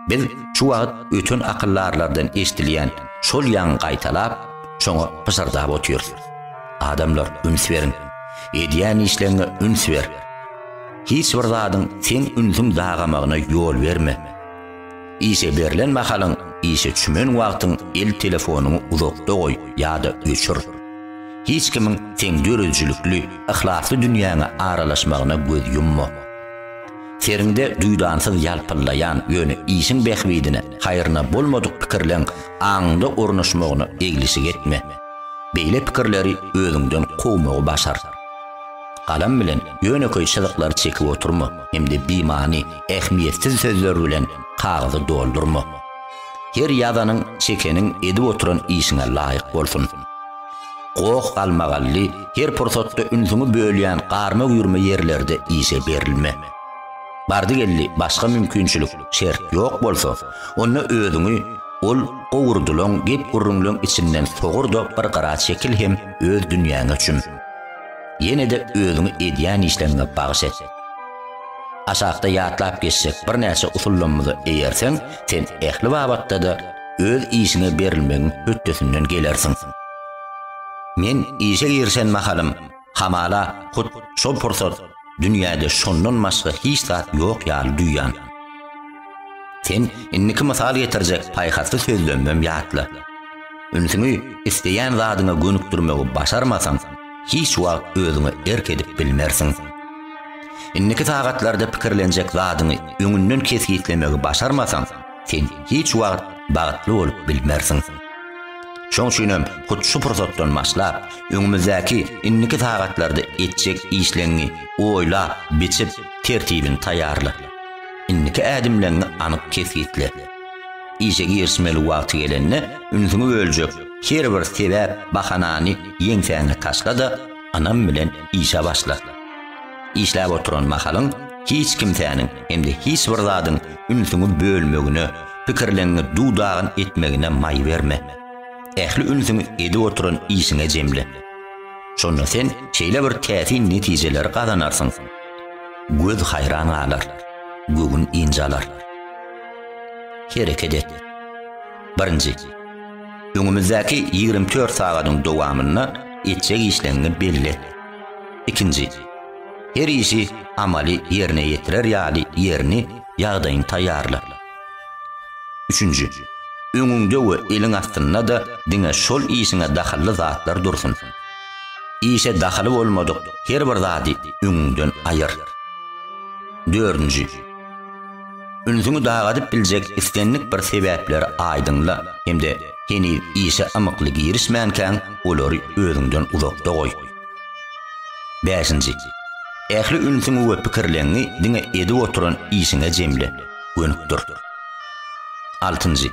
Biz şu wagt öten akyldarlardan eşidilýän şol ýaňy gaýtalap, şoňa pyşyrdap otyrys. Adamlar üns beriň. Edýän işleňe üns ber. Hiç bir zadyň seň ünsüň dagamagyna ýol berme. Işe berlen mahalyň, işe çümen wagtyň el telefonyňy uzakda goý ýa-da öçür. Hiç kimiň seň döredijilikli, yhlasly dünýäňe aralaşmagyna göz ýumma. Seriňde duýdansyz ýalpyllaýan, ýöne işiň bähbidine, haýryna bolmadyk pikirleň aňyňda ornaşmagyna eglişik etme. Beýle pikirleri özüňden kowmagy başar. Galam bilen ýönekeý çyzyklary çekip oturma hem-de bimany, ähmiýetsiz sözler bilen kagyzy doldurma. Her ýazanyň, çekeniň edip oturan işiňe laýyk bolsun. Goh-galmagally, her pursatda ünsüňi bölýän garma-güýrme ýerlerde işe berilme. Bardy-geldi başga mümkinçilik, şert ýok bolsa, onda özüňi ol gowurdylan gep-gürrüňleň içinden sogur-da bir gyra çekil hem öz dünýäňe çüm. Ýene-de özüňi edýän işleriňe bagyş et. Aşakda ýatlap geçjek birnäçe usullarymyza eýerseň, sen ähli babatda-da öz işiňe berilmegiň hötdesinden gelersiň. Men işe girişen mahalym, Hamala, hut şol pursat dünýäde şondan başga hiç zat ýok ýaly duýýan. Sen indiki mysal getirjek paýhasly sözlemem ýatla. Ünsüňi isleýän zadyňa gönükdirmegi başarmasaň, hiç wagt özüňe erk edip bilmersiň. Indiki sagatlarda pikirlenjek zadyňy öňünden kesgitlemegi başarmasaň, sen hiç wagt bagtly bolup bilmersiň. Şoň üçin hem hut şu pursatdan başlap, öňümizdäki indiki sagatlarda etjek işleňňi oýlap, biçip, tertibini taýýarla. Indiki ädimleňňi anyk kesgitle. Işe girişmeli wagty gelende, ünsüňi böljek her bir sebäp, bahanany ýeňsäňe taşla-da, ynam bilen işe başla. Işläp oturan mahalyň hiç kimsäniň hem-de hiç bir zadyň ünsüňi bölmegine, pikirleňňi duw-dagyn etmegine maý berme. Ähli ünsüňi edip oturan işiňe jemle. Şonda sen şeýle bir täsin netijeleri gazanarsyň, göz haýran galar, göwün ynjalar. Hereket et. Birinji. Öňümizdäki ýigrimi dört sagadyň dowamynda etjek işleňňi belle. Ikinji. Her işi amaly ýerine ýetirer ýaly ýerini, ýagdaýyny taýýarla. Üçünji. Öňüňde we eliň astynda-da diňe şol işiňe dahylly zatlar dursun. Işe dahyly bolmadyk her bir zady öňüňden aýyr. Dördünji. Ünsüňi dagadyp biljek islendik bir sebäpleri aýdyňla hem-de heniz işe ymykly girişmänkäň olary özüňden uzakda goý. Bäşinji. Ähli ünsüňi we pikirleňňi diňe edip oturan işiňe jemle, gönükdir. Altynjy.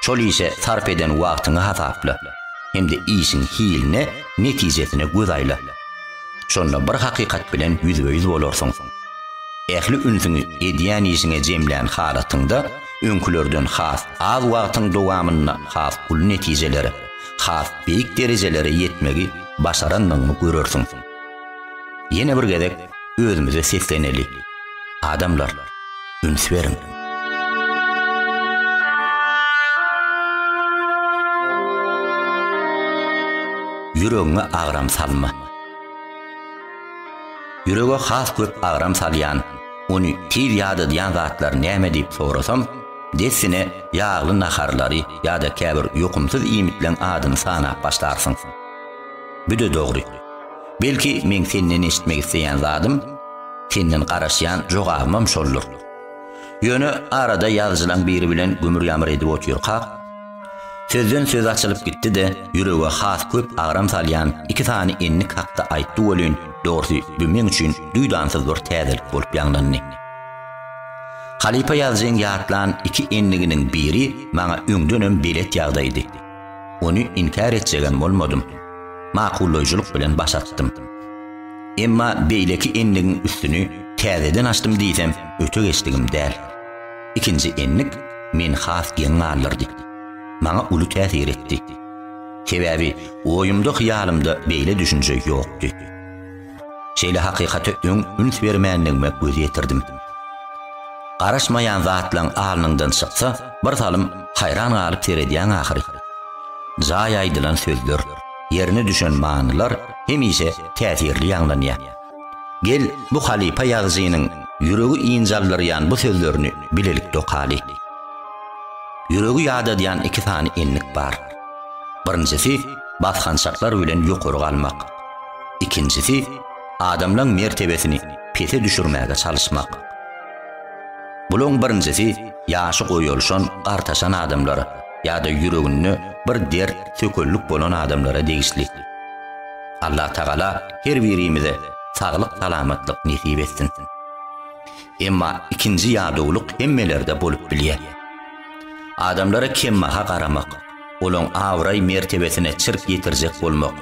Şol işe sarp eden wagtyňy hasapla hem-de işiň hiline, netijesine göz aýla. Şonda bir hakykat bilen ýüzbe-ýüz bolarsyň. Ähli ünsüňi edýän işiňe jemlän halatyňda öňkülerden has az wagtyň dowamynda has uly netijelere, has beýik derejelere ýetmegi başarandygyňy görersiň. Ýene bir gezek özümize sesleneli, Adamlar, üns beriň! Ýüregiňe agram salma. Ýürege has köp agram salýan, ony tiz ýadadýan zatlar näme diýip sorasam, dessine ýagly naharlary ýa-da käbir ýokumsyz iýmitleň adyny sanap başlarsyň. Büde dogry. Belki meň senden eşitmek isleýän zadym, senden garaşýan jogabymam şoldur. Ýöne arada ýazyjylaň biri bilen gümür-ýamyr edip otyrkak, Sözden söz açylyp gitdi-de, ýürege has köp agram salýan iki sany endik hakda aýtdy welin, dogrusy, bu meň üçin duýdansyz bir täzelik bolup ýaňlandy. Halypa ýazyjyň ýatlan iki endiginiň biri maňa öňdenem belet ýagdaýdy. Ony inkär etjegem bolmadym. Makullaýjylyk bilen baş atdym. Emma beýleki endigiň üstüni täzeden açdym diýsem, öte geçdigim däl. Ikinji endik meni has geň galdyrdy. Maňa uly täsir etdi. Sebäbi oýumda-hyýalymda beýle düşünje ýokdy. Şeýle hakykata öň üns bermändigime göz ýetirdim. Garaşmaýan zatlaň alnyňdan çyksa, bir salym haýran galyp seredýäň ahyry. Jaý aýdylan sözler, ýerine düşen manylar hemişe täsirli ýaňlanýar. Gel, bu halypa ýazyjynyň ýüregi ynjaldyrýan bu sözlerini bilelikde okaly. Ýüregi ýadadýan iki sany endik bar. Birinjisi, basgançaklar bilen ýokary galmak. Ikinjisi, adamlaň mertebesini pese düşürmäge çalyşmak. Bulaň birinjisi ýaşy goýalşan, gartaşan adamlar ýa-da ýüreginde bir dert, sökellik bolan adamlara degişli. Allah Tagala her birimize saglyk salamatlyk nesip etsin. Emma ikinji ýadowlyk hemmelerde bolup bilýär. Adamlara kemmaha garamak, olaň abraý mertebesine çirk ýetirjek bolmak,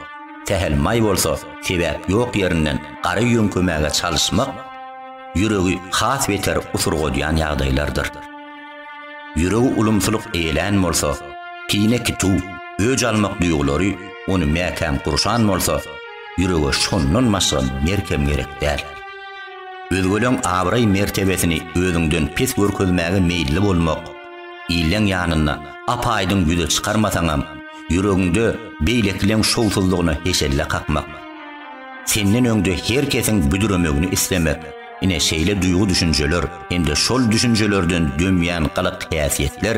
sähel maý bolsa sebäp ýok ýerinden gara ýöňkemäge çalyşmak ýüregi has beter usurgadýan ýagdaýlardyr. Ýüregi ulumsylyk eýelän bolsa, kine kitu, öç almak duýgulary ony mäkäm gurşan bolsa, ýürege şondan başga merkem gerek däl. Özgeleň abraý-mertebesini özüňden pes görkezmäge meýilli bolmak, illeň ýanynda ap-aýdyň ýüze çykarmasaňam, ýüregiňde beýlekileň şowsuzlygyna heşelle kakmak. Senden öňde her kesiň büdremegini islemek. Ine, şeýle duýgy-düşünjeler hem-de şol düşünjelerden dömýän gylyk häsiýetler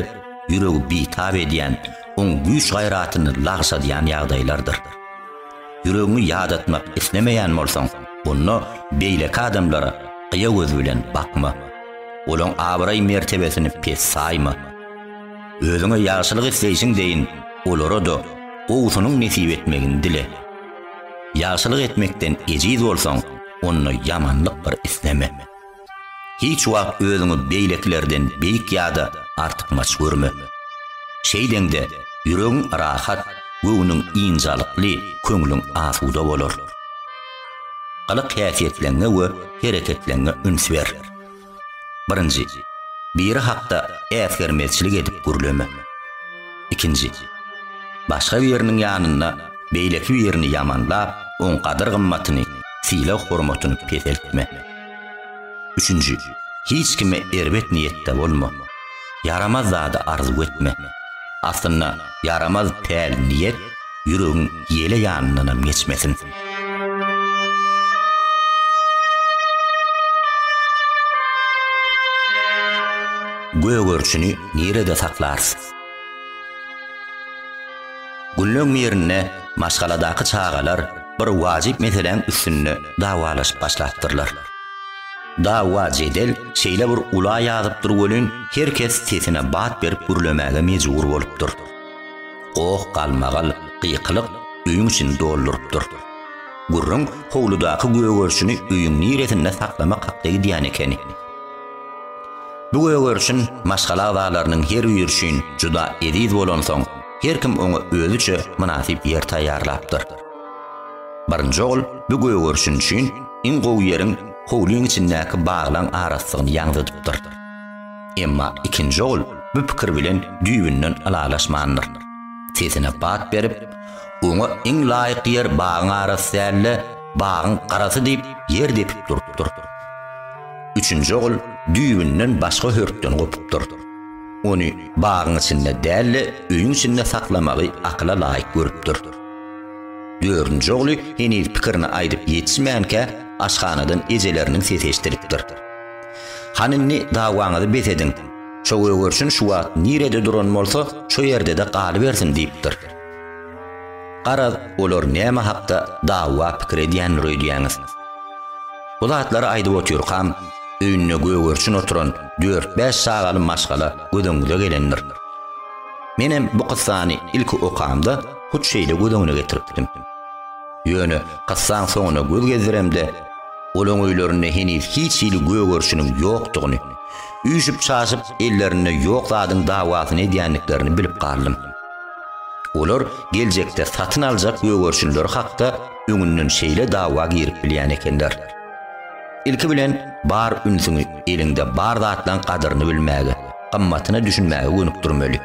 ýüregi bitap edýän, oň güýç-gaýratyny lagşadýan ýagdaýlardyr. Ýüregiňi ýadatmak islemeýän bolsaň, onda beýleki adamlara gyýa göz bilen bakma. Olaň abraý-mertebesini pes saýma. Özüňe ýagşylyk isleýşiň deýin, olara-da gowusynyň nesip etmegini dile. Ýagşylyk etmekden ejiz bolsaň, onda ýamanlyk bir isleme. Hiç wagt özüňi beýlekilerden beýik ýa-da artykmaç görme. Şeýdeňde, ýüregiň rahat, göwnüň ynjalykly, köňlüň asuda bolar. Gylyk-häsiýetleňňe we hereketleňňe üns ber. Birinji, biri hakda äsgermezçilik edip gürleme. Ikinji, başga biriniň ýanynda beýleki birini ýamanlap, oň gadyr-gymmatyny, sylag-hormatyny peseltme. Üçünji, hiç kime erbet niýetde bolma. Ýaramaz zady arzuw etme. Aslynda ýaramaz päl niýet ýüregiň ýele ýanyndanam geçmesin. Gögerçini nirede saklarys? Günleň birinde maşgaladaky çagalar bir wajyp meseläň üstünde dawalaşyp başlapdyrlar. Dawa-jedel şeýle bir ula ýazypdyr welin, her kes sesine bat berip gürlemäge mejbur bolupdyr. Goh, galmagal, gykylyk öýüň içini doldurypdyr. Gürrüň howludaky gögerişini öýüň niresinde saklamak hakda gidýän ekeni. Bu gögerişin maşgala agzalarynyň her biri üçin juda eziz bolansoň, her kim oňa özüçe mynasyp ýer taýýarlapdyr. Birinji ogul bu gögerişin üçin iň gowy ýeriň howlyň içindäki baglaň arassygyny ýaňzydypdyr. Emma ikinji ogul bu pikir bilen düýbünden ylalaşmandyr. Sesine bat berip, oňa iň laýyk ýer bagyň arasy däl-de, bagyň garasy diýip, ýer depip durupdyr. Üçünji ogul düýbünden başga hörpden gopupdyr. Ony bagyň içinde däl-de, öýüň içinde saklamagy akyla laýyk görüpdir. Dördünji ogly heniz pikirini aýdyp ýetişmänkä, aşhanadan ejeleriniň sesi eşidilipdir. Han indi dawaňyzy bes ediň. Şo gögerçin şu wagt nirede duran bolsa, şo ýerde-de galybersin diýipdir. Garaz, olar näme hakda dawa pikir edýändir öýdýäňiz? Bu zatlary aýdyp otyrkam, öýünde gögerçin oturan dört-bäş çagaly maşgala gözüňize gelendir. Menem bu kyssany ilki okamda hut şeýle göz öňüne getiripdim. Ýöne kyssaň soňuna göz gezdiremde, olaň öýlerinde heniz hiç hili gögerişiniň ýokdugyny, üýşüp-çaşyp ellerinde ýok zadyň dawasyny edýändiklerini bilip galdym. Olar geljekde satyn aljak gögerişinleri hakda öňünden şeýle dawa girip bilýän ekenler. Ilki bilen bar ünsüňi eliňde bar zatlaň gadyryny bilmäge, gymmatyna düşünmäge gönükdirmeli.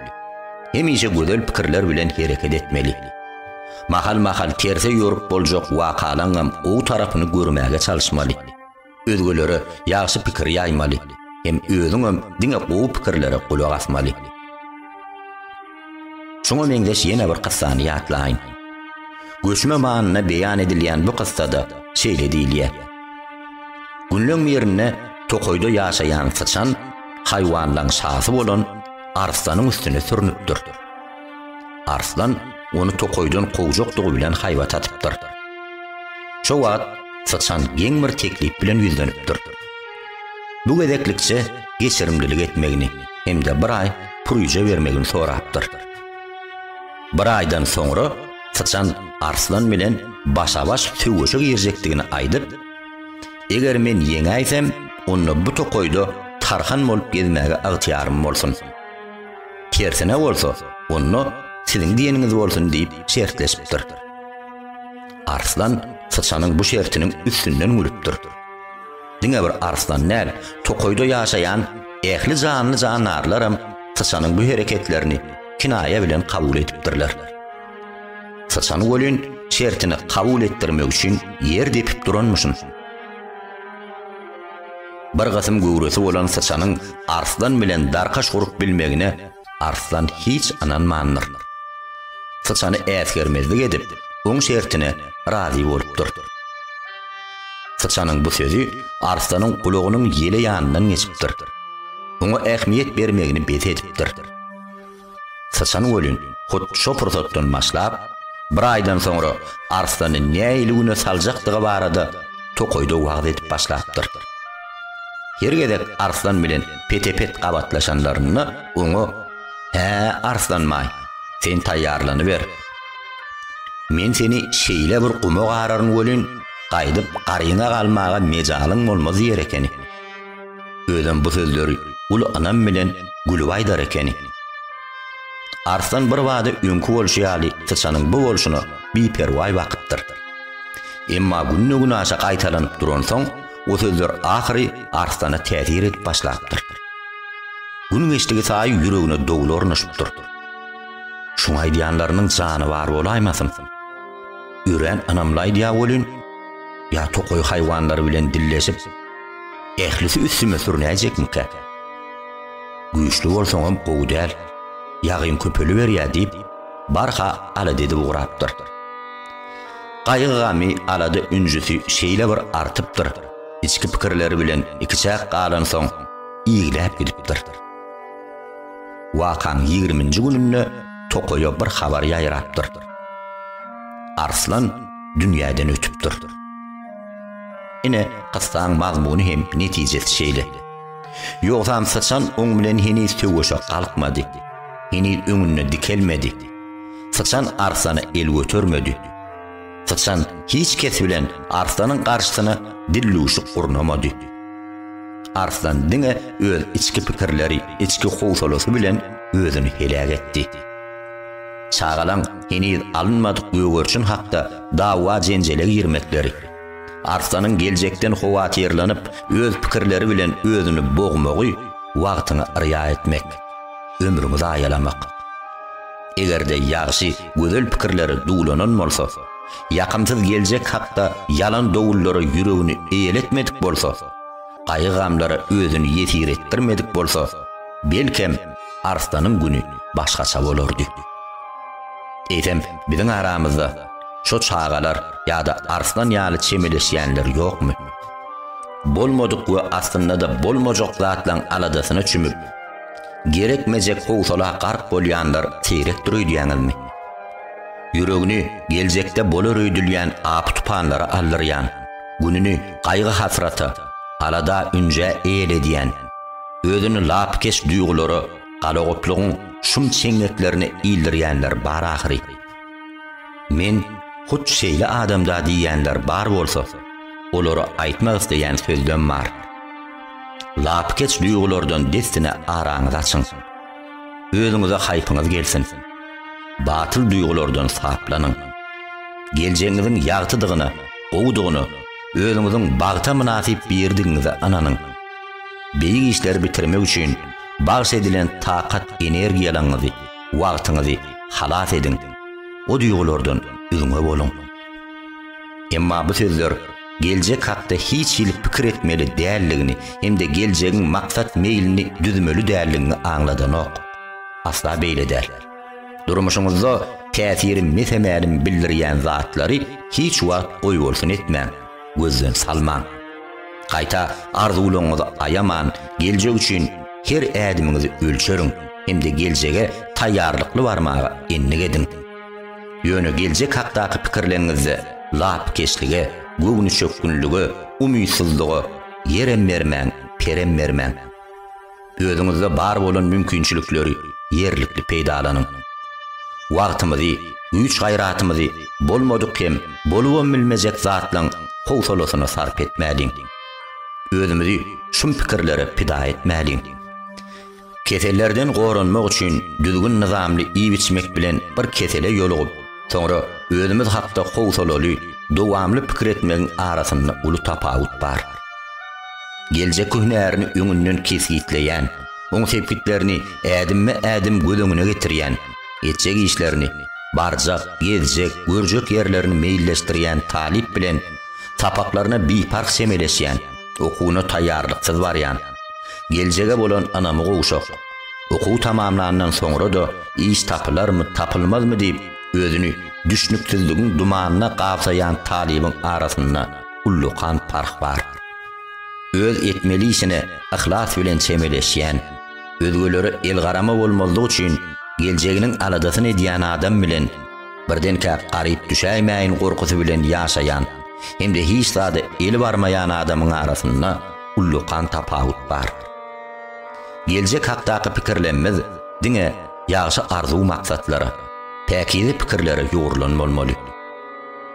Hemişe gözel pikirler bilen hereket etmeli. Mahal-mahal terse ýorup boljak wakalaňam gowy tarapyny görmäge çalyşmaly. Özgelere ýagşy pikir ýaýmaly hem özüňem diňe gowy pikirlere gulak asmaly. Şuňa meňzeş ýene bir kyssany ýatlaýyn. Göçme manyna beýan edilýän bu kyssada şeýle diýilýär. Günleň birinde tokaýda ýaşaýan syçan haýwanlaryň şasy bolan arslanyň üstüne sürnüpdir. Arslan ony tokaýdan kowjakdygy bilen haýbat atypdyr. Şo wagt syçan geň bir teklip bilen ýüzlenipdir. Bu gezeklikçe geçirimlilik etmegini hem-de bir aý pürüje bermegini sorapdyr. Bir aýdan soňra syçan arslan bilen başa-baş söweşe girjekdigini aýdyp, Eger men ýeňäýsem, onda bu tokaýda tarhan bolup gezmäge ygtyýarym bolsun. Tersine bolsa, onda siziň diýeniňiz bolsun diýip şertleşipdir. Arslan syçanyň bu şertiniň üstünden gülüpdir. Diňe bir arslan däl, tokaýda ýaşaýan ähli janly-jandarlaram syçanyň bu hereketlerini kinaýa bilen kabul edipdirler. Syçan welin şertini kabul etdirmek üçin ýer depip duranmyşyn. Bir gysym göwresi bolan syçanyň arslan bilen darkaş gurup bilmegine Arslan hiç ynanmandyr. Syçany äsgermezlik edip, oň şertine razy bolupdyr. Syçanyň bu sözi Arslanyň gulagynyň ýele ýanyndan geçipdir. Oňa ähmiýet bermegini bes edipdir. Syçan welin, hut şo pursatdan başlap, bir aýdan soňra Arslany nähili güne saljakdygy barada tokaýda wagyz edip başlapdyr. Her gezek Arslan bilen pete-pet gabatlaşanlarynda oňa, Hä, Arslanbaý, sen taýýarlanyber. Men seni şeýle bir guma gararyn welin, gaýdyp garyňa galmaga mejalyň bolmaz diýer ekeni. Özem bu sözleri uly ynam bilen gülüp aýdar ekeni. Arslan birbada öňki bolşy ýaly syçanyň bu bolşuna biperwaý bakypdyr. Emma günde-günaşa gaýtalanyp duransoň, Bu sözler ahyry Arslana täsir edip başlapdyr. Gün geçdigi saýy ýüregine dowul ornaşypdyr. Şuň aýdýanlarynyň jany bar bolaýmasyn? Örän ynamly aýdýa welin, ýa tokaý haýwanlary bilen dilleşip, ählisi üstüme sürünäýjekmikä? Güýçli bolsaňam gowy däl, ýagyň köpeliberýä diýip, barha alada edip ugrapdyr. Gaýgy-gamy, alada-ünjüsi şeýle bir artypdyr, içki pikirleri bilen ikiçäk galansoň, igläp gidipdir. Wakaň ýigriminji gününde tokaýa bir habar ýaýrapdyr. Arslan dünýäden ötüpdir. Ine, kyssaň mazmuny hem netijesi şeýle. Ýogsam Syçan oň bilen heniz söweşe galkmady. Heniz öňünde dikelmedi. Syçan arslana el götermedi. Syçan hiç kes bilen arslanyň garşysyna dillüwşük gurnamady. Arslan diňe öz içki pikirleri, içki howsalasy bilen özüni heläk etdi. Çagalaň heniz alynmadyk gögerçin hakda dawa-jenjele girmekleri, arslanyň geljekden howatyrlanyp, öz pikirleri bilen özüni bogmagy wagtyňa yrýa etmek. ömrüňi zaýalamak. Eger-de ýagşy, gözel pikirler duwlanan bolsa, ýakymsyz geljek hakda ýalan dowullara ýüregini eýeletmedik bolsa, gaýgy-gamlara özüni ýesir etdirmedik bolsa, belkem, Arslanyň güni başgaça bolardy. Eýsem, biziň aramyzda şo çagalar ýa-da Arslan ýaly çemeleşýänler ýokmy? Bolmadyk we aslynda-da bolmajak zatlaň aladasyna çümüp, Gerekmejek howsala gark bolýanlar seýrekdir öýdýäňizmi? Ýüregini geljekde bolar öýdülýän apy-tupanlara aldyrýan, gününi gaýgy-hasrata, alada-ünjä eýledýän, özüni lapykeç duýgulara galagoplugyň şum çeňňeklerine ildirýänler bar ahyry. Men hut şeýle adamda diýýänler bar bolsa, olara aýtmak isleýän sözlem bar. Lapykeç duýgulardan dessine araňyzy açyň. Özüňize haýpyňyz gelsin. Batyl duýgulardan saplanyň. Geljegiňiziň ýagtydygyna, gowudygyna, özüňiziň bagta mynasyp biridigiňize ynanyň. Beýik işleri bitirmek üçin bagş edilen takat energiýalaňyzy, wagtyňyzy halas ediň. O duýgulardan üzňe boluň. Emma bu sözler geljek hakda hiç hili pikir etmeli däldigiňi hem-de geljegiň maksat meýlini düzmeli däldigiňi aňladanok. Asla beýle däl. Durmuşyňyzda täsiri mese-mälim bildirýän zatlary hiç wagt goýbolsun etmäň, gözden salmaň. Gaýta, arzuwlaryňyzy aýaman, geljek üçin her ädimiňizi ölçeriň hem-de geljege taýýarlykly barmaga endik ediň. Ýöne geljek hakdaky pikirleriňizde lapykeçlige, göwnüçökgünlige, umytsyzlyga ýerem bermäň, perem bermäň. Özüňizde bar bolan mümkinçilikleri ýerlikli peýdalanyň. Wagtymyzy, güýç-gaýratymyzy bolmadyk hem bolubam bilmejek zatlaryň howsalasyna sarp etmäliň. Özümizi şum pikirlere pida etmäliň. Kesellerden goranmak üçin düzgün-nyzamly iýip-içmek bilen bir kesele ýolugyp, soňra özümiz hakda howsalaly, dowamly pikir etmegiň arasynda uly tapawut bar. Geljekki hünärini öňünden kesgitleýän, oň sepgitlerini ädimme-ädim göz öňüne getirýän, etjek işlerini, barjak, gezjek, görjek ýerlerini meýilleşdirýän talyp bilen sapaklaryna biparh çemeleşýän, Okuwyna taýýarlyksyz barýan. Geljege bolan ynamy gowşak. Okuw tamamlandan soňra-da iş tapylarmy, tapylmazmy diýip, özüni düşnüksizligiň dumanyna gabsaýan talybyň arasynda ullakan parh bar. Öz etmeli işine yhlas bilen çemeleşýän, özgelere elgarama bolmazlyk üçin geljeginiň aladasyny edýän adam bilen, birdenkä garyp düşäýmäýin gorkusy bilen ýaşaýan hem-de hiç zada eli barmaýan adamyň arasynda ullakan tapawut bar. Geljek hakdaky pikirlemmiz diňe ýagşy arzuw-maksatlara, päkize pikirlere ýugrulan bolmaly.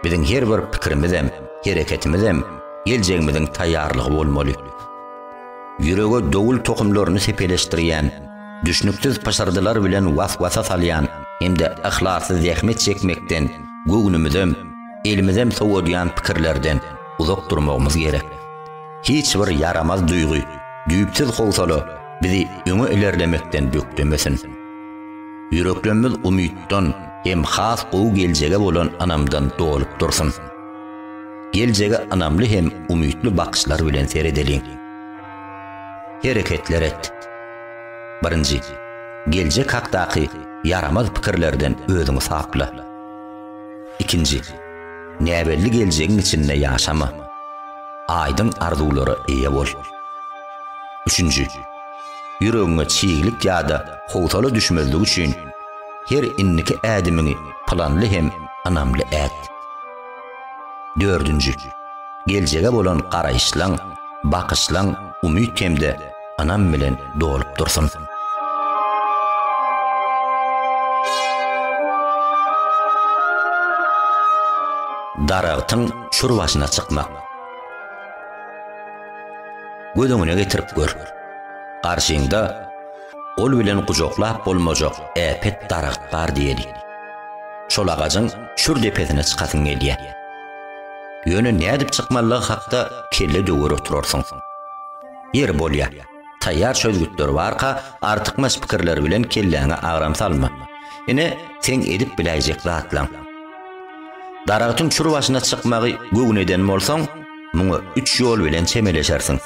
Biziň her bir pikirimizem, hereketimizem geljegimiziň taýýarlygy bolmaly. Ýürege dowul tohumlaryny sepeleşdirýän, düşnüksiz pyşyrdylar bilen was-wasa salýan hem-de yhlasly zähmet çekmekden göwnümizem, elimizem sowadýan pikirlerden uzak durmagymyz gerek. Hiç bir ýaramaz duýgy, düýpsüz howsala bizi öňe ilerlemekden bökdemesin. Ýüreklemmiz umytdan hem has gowy geljege bolan ynamdan dolup dursun. Geljege ynamly hem umytly bakyşlar bilen seredeliň. Hereketler et. Birinji, geljek hakdaky ýaramaz pikirlerden özüňi sapla. Ikinji, näbelli geljegiň içinde ýaşama. Aýdyň arzuwlara eýe bol. Üçünji, ýüregiňe çiglik ýa-da howsala düşmezligi üçin, her indiki ädimiňi planly hem ynamly et. Dördünji, geljege bolan garaýyşlaň, bakyşlaň umyt hem-de ynam bilen dolup dursun. Daragtyň çür başyna çykmak. Göz öňüne getirip gör. Garşyňda Gol bilen gujaklap bolmajak äpet daragt bar diýeli. Şol agajyň çür depesine çykasyň gelýär. Ýöne nädip çykmalydygy hakda kelle döwer oturarsyň. Ýeri bolýar, taýýar çözgütler barka artykmaç pikirler bilen kelläňe agram salma. Ine, seň edip biläýjek zatlaň. Daragtyň çür başyna çykmagy göwün eden bolsaň, muňa üç ýol bilen çemeleşersiň.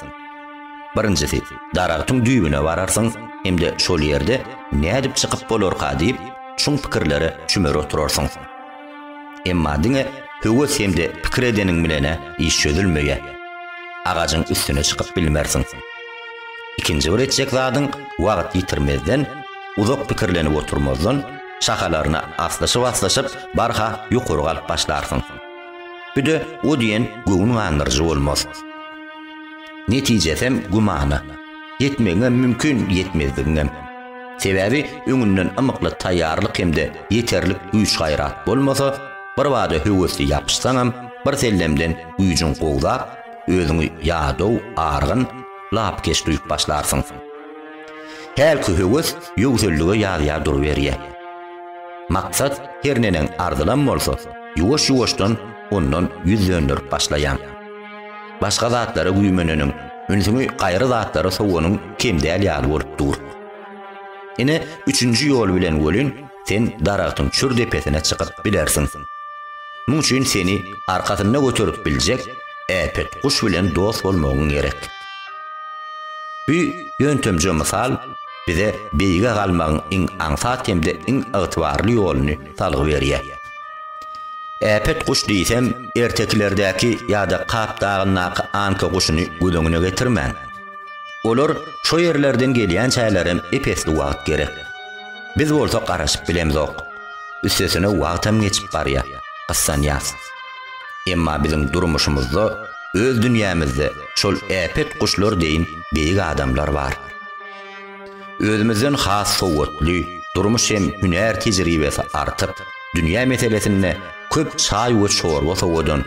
Birinjisi, daragtyň düýbüne bararsyň hem-de şol ýerde nädip çykyp bolarka diýip, çuň pikirlere çümer oturarsyň. Emma diňe höwes hem-de pikir edeniň bilen-ä iş çözülmeýär. Agajyň üstüne çykyp bilmersiň. Ikinji bir etjek zadyň wagt ýitirmezden, uzak pikirlenip oturmazdan, şahalaryna aslyşyp-aslyşyp, barha ýokary galyp başlarsyň. Bu-da o diýen göwün gandyryjy bolmaz. Netijesem gümana. Ýetmegiňem mümkin, ýetmezligiňem. Sebäbi öňünden ymykly taýýarlyk hem-de ýeterlik güýç-gaýrat bolmasa, birbada höwesli ýapyşsaňam, birsellemden güýjüň gowzap, özüňi ýadaw, argyn, lapykeç duýup başlarsyň. Hälki höwes ýöwsellige ýazýar duruberýär. Maksat her neneň arzylam bolsa, ýuwaş-ýuwaşdan ondan ýüz dönderip başlaýaň. Başga zatlara güýmeneniň, ünsüňi gaýry zatlara sowanyň kem däl ýaly bolup dur. Ine, üçünji ýol bilen welin, sen daragtyň çür depesine çykyp bilersiň. Muň üçin seni arkasynda göterip biljek äpet guş bilen dost bolmagyň gerek. Bu ýöntemje mysal bize beýige galmagyň iň aňsat hem-de iň ygtybarly ýoluny salgy berýär. Äpet guş diýsem, ertekilerdäki ýa-da Kap dagyndaky anka guşuny göz öňüne getirmäň. Olar şo ýerlerden gelýänçälerem ep-esli wagt gerek. Biz bolsa garaşyp bilemzok. Üstesine wagtam geçip barýar, gyssanýas. Emma biziň durmuşymyzda, öz dünýämizde şol äpet guşlar deýin beýik adamlar bar. Özümizden has sowatly, durmuş hem hünär tejribesi artyp, dünýä meselesinde köp çaý we çorba sowadan,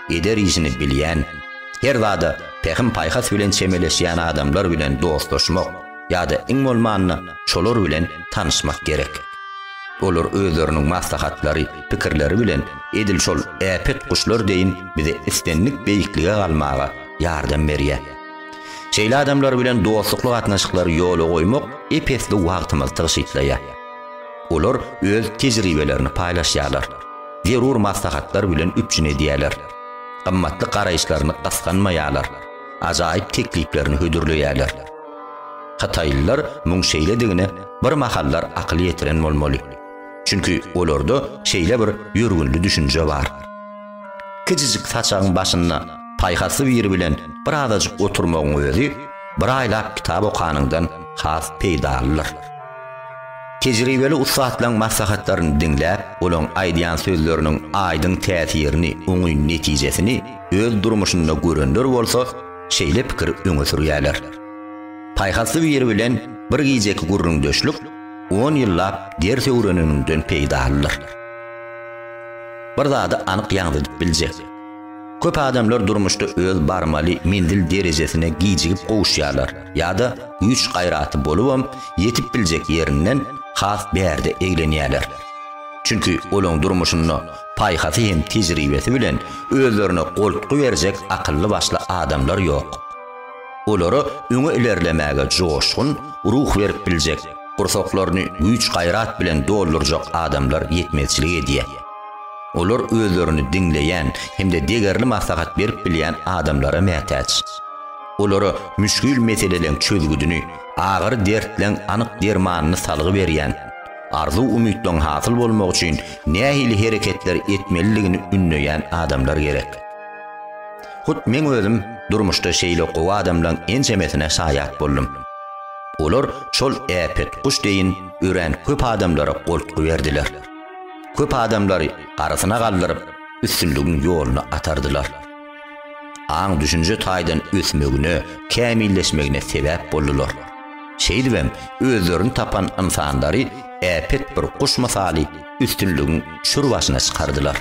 eder işini bilýän, her zada pähim-paýhas bilen çemeleşýän adamlar bilen dostlaşmak ýa-da iň bolmanda şolar bilen tanyşmak gerek. Olar özleriniň maslahatlary, pikirleri bilen edil şol äpet guşlar deýin bize islendik beýiklige galmaga ýardam berýär. Şeýle adamlar bilen dostlukly gatnaşyklary ýola goýmak ep-esli wagtymyzy tygşytlaýar. Olar öz tejribelerini paýlaşýarlar, zerur maslahatlar bilen üpjün edýärler, gymmatly garaýyşlaryny gysganmaýarlar, ajaýyp tekliplerini hödürleýärler. Hytaýlylar muň şeýledigine bir mahallar akyl ýetiren bolmaly. Çünki olarda şeýle bir ýörgünli düşünje bar. Kijijik saçagyň başynda paýhasly biri bilen bir azajyk oturmagyň özi bir aýlap kitap okanyňdan has peýdalydyr. Tejribeli ussatlaryň maslahatlaryny diňläp, olaryň aýdýan sözleriniň aýdyň täsirini, oňyn netijesini öz durmuşynda görenler bolsa şeýle pikiri öňe sürýärler. Paýhasly biri bilen bir gijeki gürrüňdeşlik on ýyllap ders öwreneniňden peýdalydyr. Bir zady anyk ýaňzydyp biljek. Köp adamlar durmuşda öz barmaly menzil derejesine gijigip gowuşýarlar ýa-da güýç-gaýraty bolubam ýetip biljek ýerinden has bärde eglenýärler. Çünki olaň durmuşynda paýhasy hem tejribesi bilen özlerine goltgy berjek akylly-başly adamlar ýok. olara öňe ilerlemäge joşgun, ruh berip biljek, gursaklaryny güýç-gaýrat bilen doldurjak adamlar ýetmezçilik edýär. Olar özlerini diňleýän hem-de degerli maslahat berip bilýän adamlara mätäç. Olara müşgil meseleleň çözgüdini, agyr dertleň anyk dermanyny salgy berýän, arzuw-umytlaň hasyl bolmagy üçin nähili hereketler etmelidigini ündeýän adamlar gerek. Hut meň özüm durmuşda şeýle gowy adamlaň ençemesine şaýat boldum. Olar şol äpet guş deýin örän köp adamlara goltgy berdiler. Köp adamlary arasyna galdyryp, üstünligiň ýoluna atardylar. Aň-düşünje taýdan ösmegine, kämilleşmegine sebäp boldular. Şeýdibem özlerini tapan ynsanlary äpet bir guş mysaly üstünligiň çür başyna çykardylar.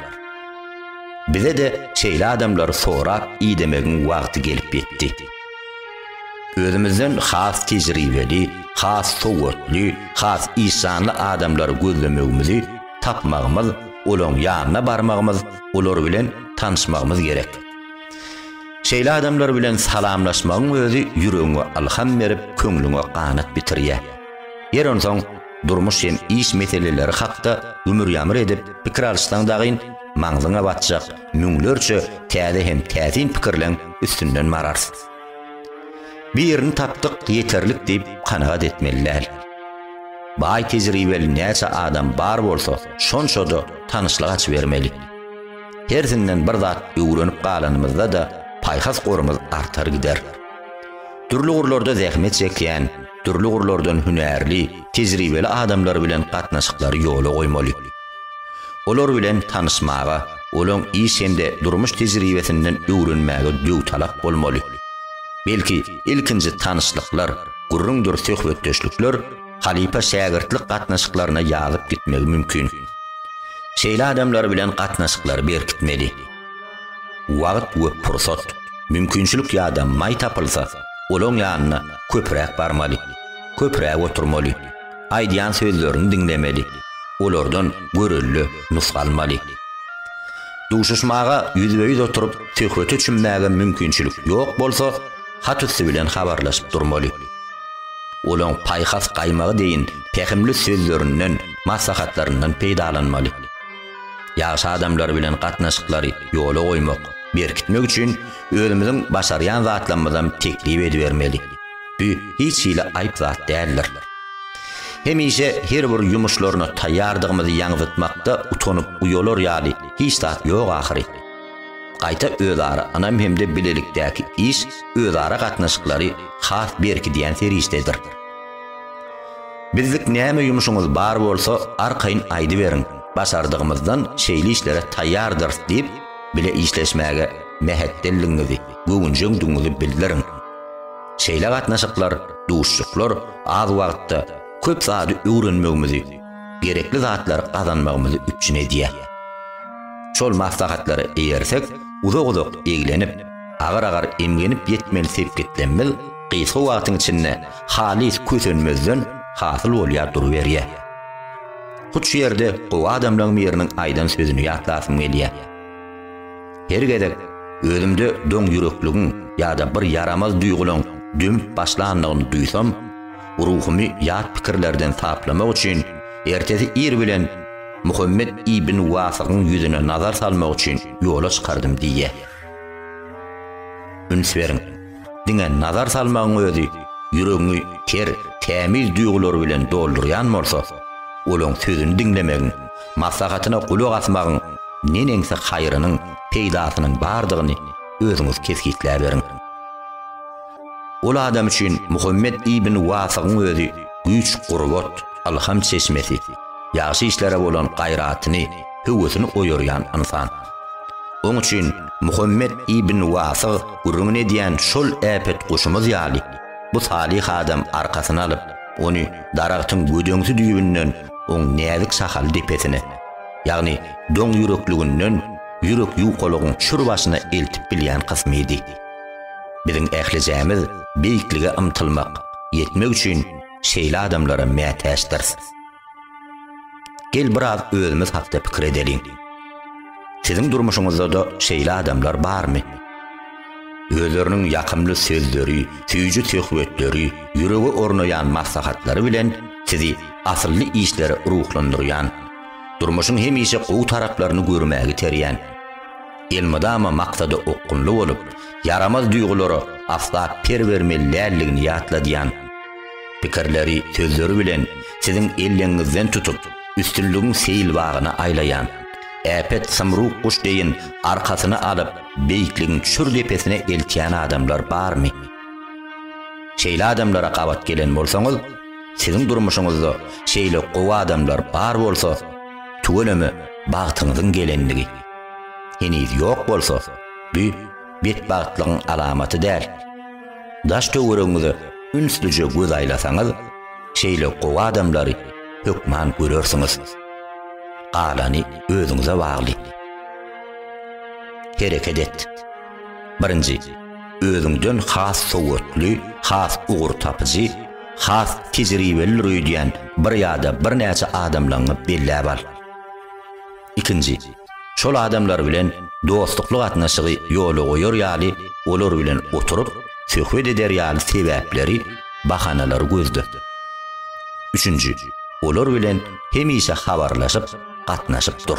Bize-de şeýle adamlary sorap idemegiň wagty gelip ýetdi. Özümizden has tejribeli, has sowatly, has işjanly adamlary gözlemegimizi, tapmagymyz, olaň ýanyna barmagymyz, olar bilen tanyşmagymyz gerek. Şeýle adamlar bilen salamlaşmagyň özi ýüregiňe ylham berip, köňlüňe ganat bitirýär. Ýeri onsoň, Durmuş hem iş meseleleri hakda ümür-ýamyr edip pikir alyşsaň dagyn, maňzyňa batjak müňlerçe täze hem täsin pikirleň üstünden bararys. Birini tapdyk, ýeterlik diýip kanagat etmeli däl. Baý tejribeli näçe adam bar bolsa, şonça-da tanyşlyk açybermeli. Hersinden bir zat öwrenip galanymyzda-da paýhas gorumyz artar gider. Dürli ugurlarda zähmet çekýän, dürli ugurlardan hünärli, tejribeli adamlar bilen gatnaşyklary ýola goýmaly. Olar bilen tanyşmaga, olaň iş hem-de durmuş tejribesinden öwrenmäge döwtalap bolmaly. Belki, ilkinji tanyşlyklar, gürrüňdir söhbetdeşlikler halypa-şägirtlik gatnaşyklaryna ýazyp gitmegi mümkin. Şeýle adamlar bilen gatnaşyklary berkitmeli. Wagt we pursat, mümkinçilik ýa-da maý tapylsa, olaň ýanyna köpräk barmaly, köpräk oturmaly, aýdýan sözlerini diňlemeli, olardan görelde nusga almaly. Duşuşmaga ýüzbe-ýüz oturyp söhbete çümmäge mümkinçilik ýok bolsa, hat üsti bilen habarlaşyp durmaly. Olaň paýhas gaýmagy deýin pähimli sözlerinden, maslahatlaryndan peýdalanmaly. Ýagşy adamlar bilen gatnaşyklary ýola goýmak, berkitmek üçin özümiziň başarýan zatlarymyzam teklip edibermeli. Bu hiç hili aýp zat däldir. Hemişe her bir ýumuşlaryna taýýardygymyzy ýaňzytmakda utanyp uýalar ýaly hiç zat ýok ahyry. Gaýta özara ynam hem-de bilelikdäki iş özara gatnaşyklary has berkidýän serişdedir. Bizlik näme ýumşuňyz bar bolsa arkaýyn aýdyberiň, başardygymyzdan şeýle işlere taýýardyrys diýip, bile işleşmäge mähetdeldigiňizi, göwünjeňdigiňizi bildiriň. Şeýle gatnaşyklar, duşuşyklar az wagtda köp zady öwrenmegimizi, gerekli zatlary gazanmagymyzy üpjün edýär. Şol maslahatlara eýersek, uzak-uzak eglenip, agyr-agyr emgenip ýetmeli sepgitlemimiz gysga wagtyň içinde halys kösenmezden hasyl bolýar duruberýär. Hut şu ýerde gowy adamlaň biriniň aýdan sözüni ýatlasym gelýär. Her gezek özümde doň ýürekligiň ýa-da bir ýaramaz duýgulaň dömüp başlanlygyny duýsam, ruhumy ýat pikirlerden saplamak üçin ertesi ir bilen Muhammet ibn Wasygyň ýüzüne nazar salmak üçin ýola çykardym diýýär. Üns beriň! Diňe nazar salmagyň özi ýüregiňi ter, tämiz duýgulary bilen doldurýan bolsa, olaň sözüni diňlemegiň, maslahatyna gulak asmagyň neneňsi haýrynyň, peýdasynyň bardygyny özüňiz kesgitläberiň. Ol adam üçin Muhammet ibn Wasygyň özi güýç-gurbat, ylham çeşmesi, ýagşy işlere bolan gaýratyny, höwesini oýarýan ynsan. Oň üçin Muhammet ibn Wasyg gürrüňini edýän şol äpet guşumyz ýaly, bu salyh adam arkasyna alyp, ony daragtyň gödeňsi düýbünden oň näzik şahaly depesine, ýagny doň ýürekliginden ýürek ýukalygyň çür başyna eltip bilýän kysmydy. Biziň ählijämiz beýiklige ymtylmak, ýetmek üçin şeýle adamlara mätäçdiris. Gel biraz özümiz hakda pikir edeliň. Siziň durmuşyňyzda-da şeýle adamlar barmy? Özleriniň ýakymly sözleri, süýji söhbetleri, ýürege ornaýan maslahatlary bilen sizi asylly işlere ruhlandyrýan, durmuşyň hemişe gowy taraplaryny görmäge iterýän, elmydama maksada okgunly bolup, ýaramaz duýgulara asla per bermeli däldigini ýatladýan, Pikirleri sözleri bilen siziň elleňňizden tutup, üstünligiň seýil bagyna aýlaýan. Äpet Symruk guş deýin arkasyna alyp, beýikligiň çür depesine eltýän adamlar barmy? Şeýle adamlara gabat gelen bolsaňyz, siziň durmuşyňyzda şeýle gowy adamlar bar bolsa, tüweleme bagtyňyzyň gelendigi. Heniz ýok bolsa, bu betbagtlygyň alamaty däl. Daş-töweregiňize ünslüje göz aýlasaňyz, şeýle gowy adamlary hökman görersiňiz. Galany özüňize bagly. Hereket et. Birinji, özüňden has sowatly, has ugur tapyjy, has tejribelidir öýdýän bir ýa-da birnäçe adamlaňňy belläp al. Ikinji, şol adamlar bilen dostlukly gatnaşygy ýola goýar ýaly, olar bilen oturyp, söhbet eder ýaly sebäpleri, bahanalary gözle. Üçünji, olar bilen hemişe habarlaşyp, gatnaşyp dur.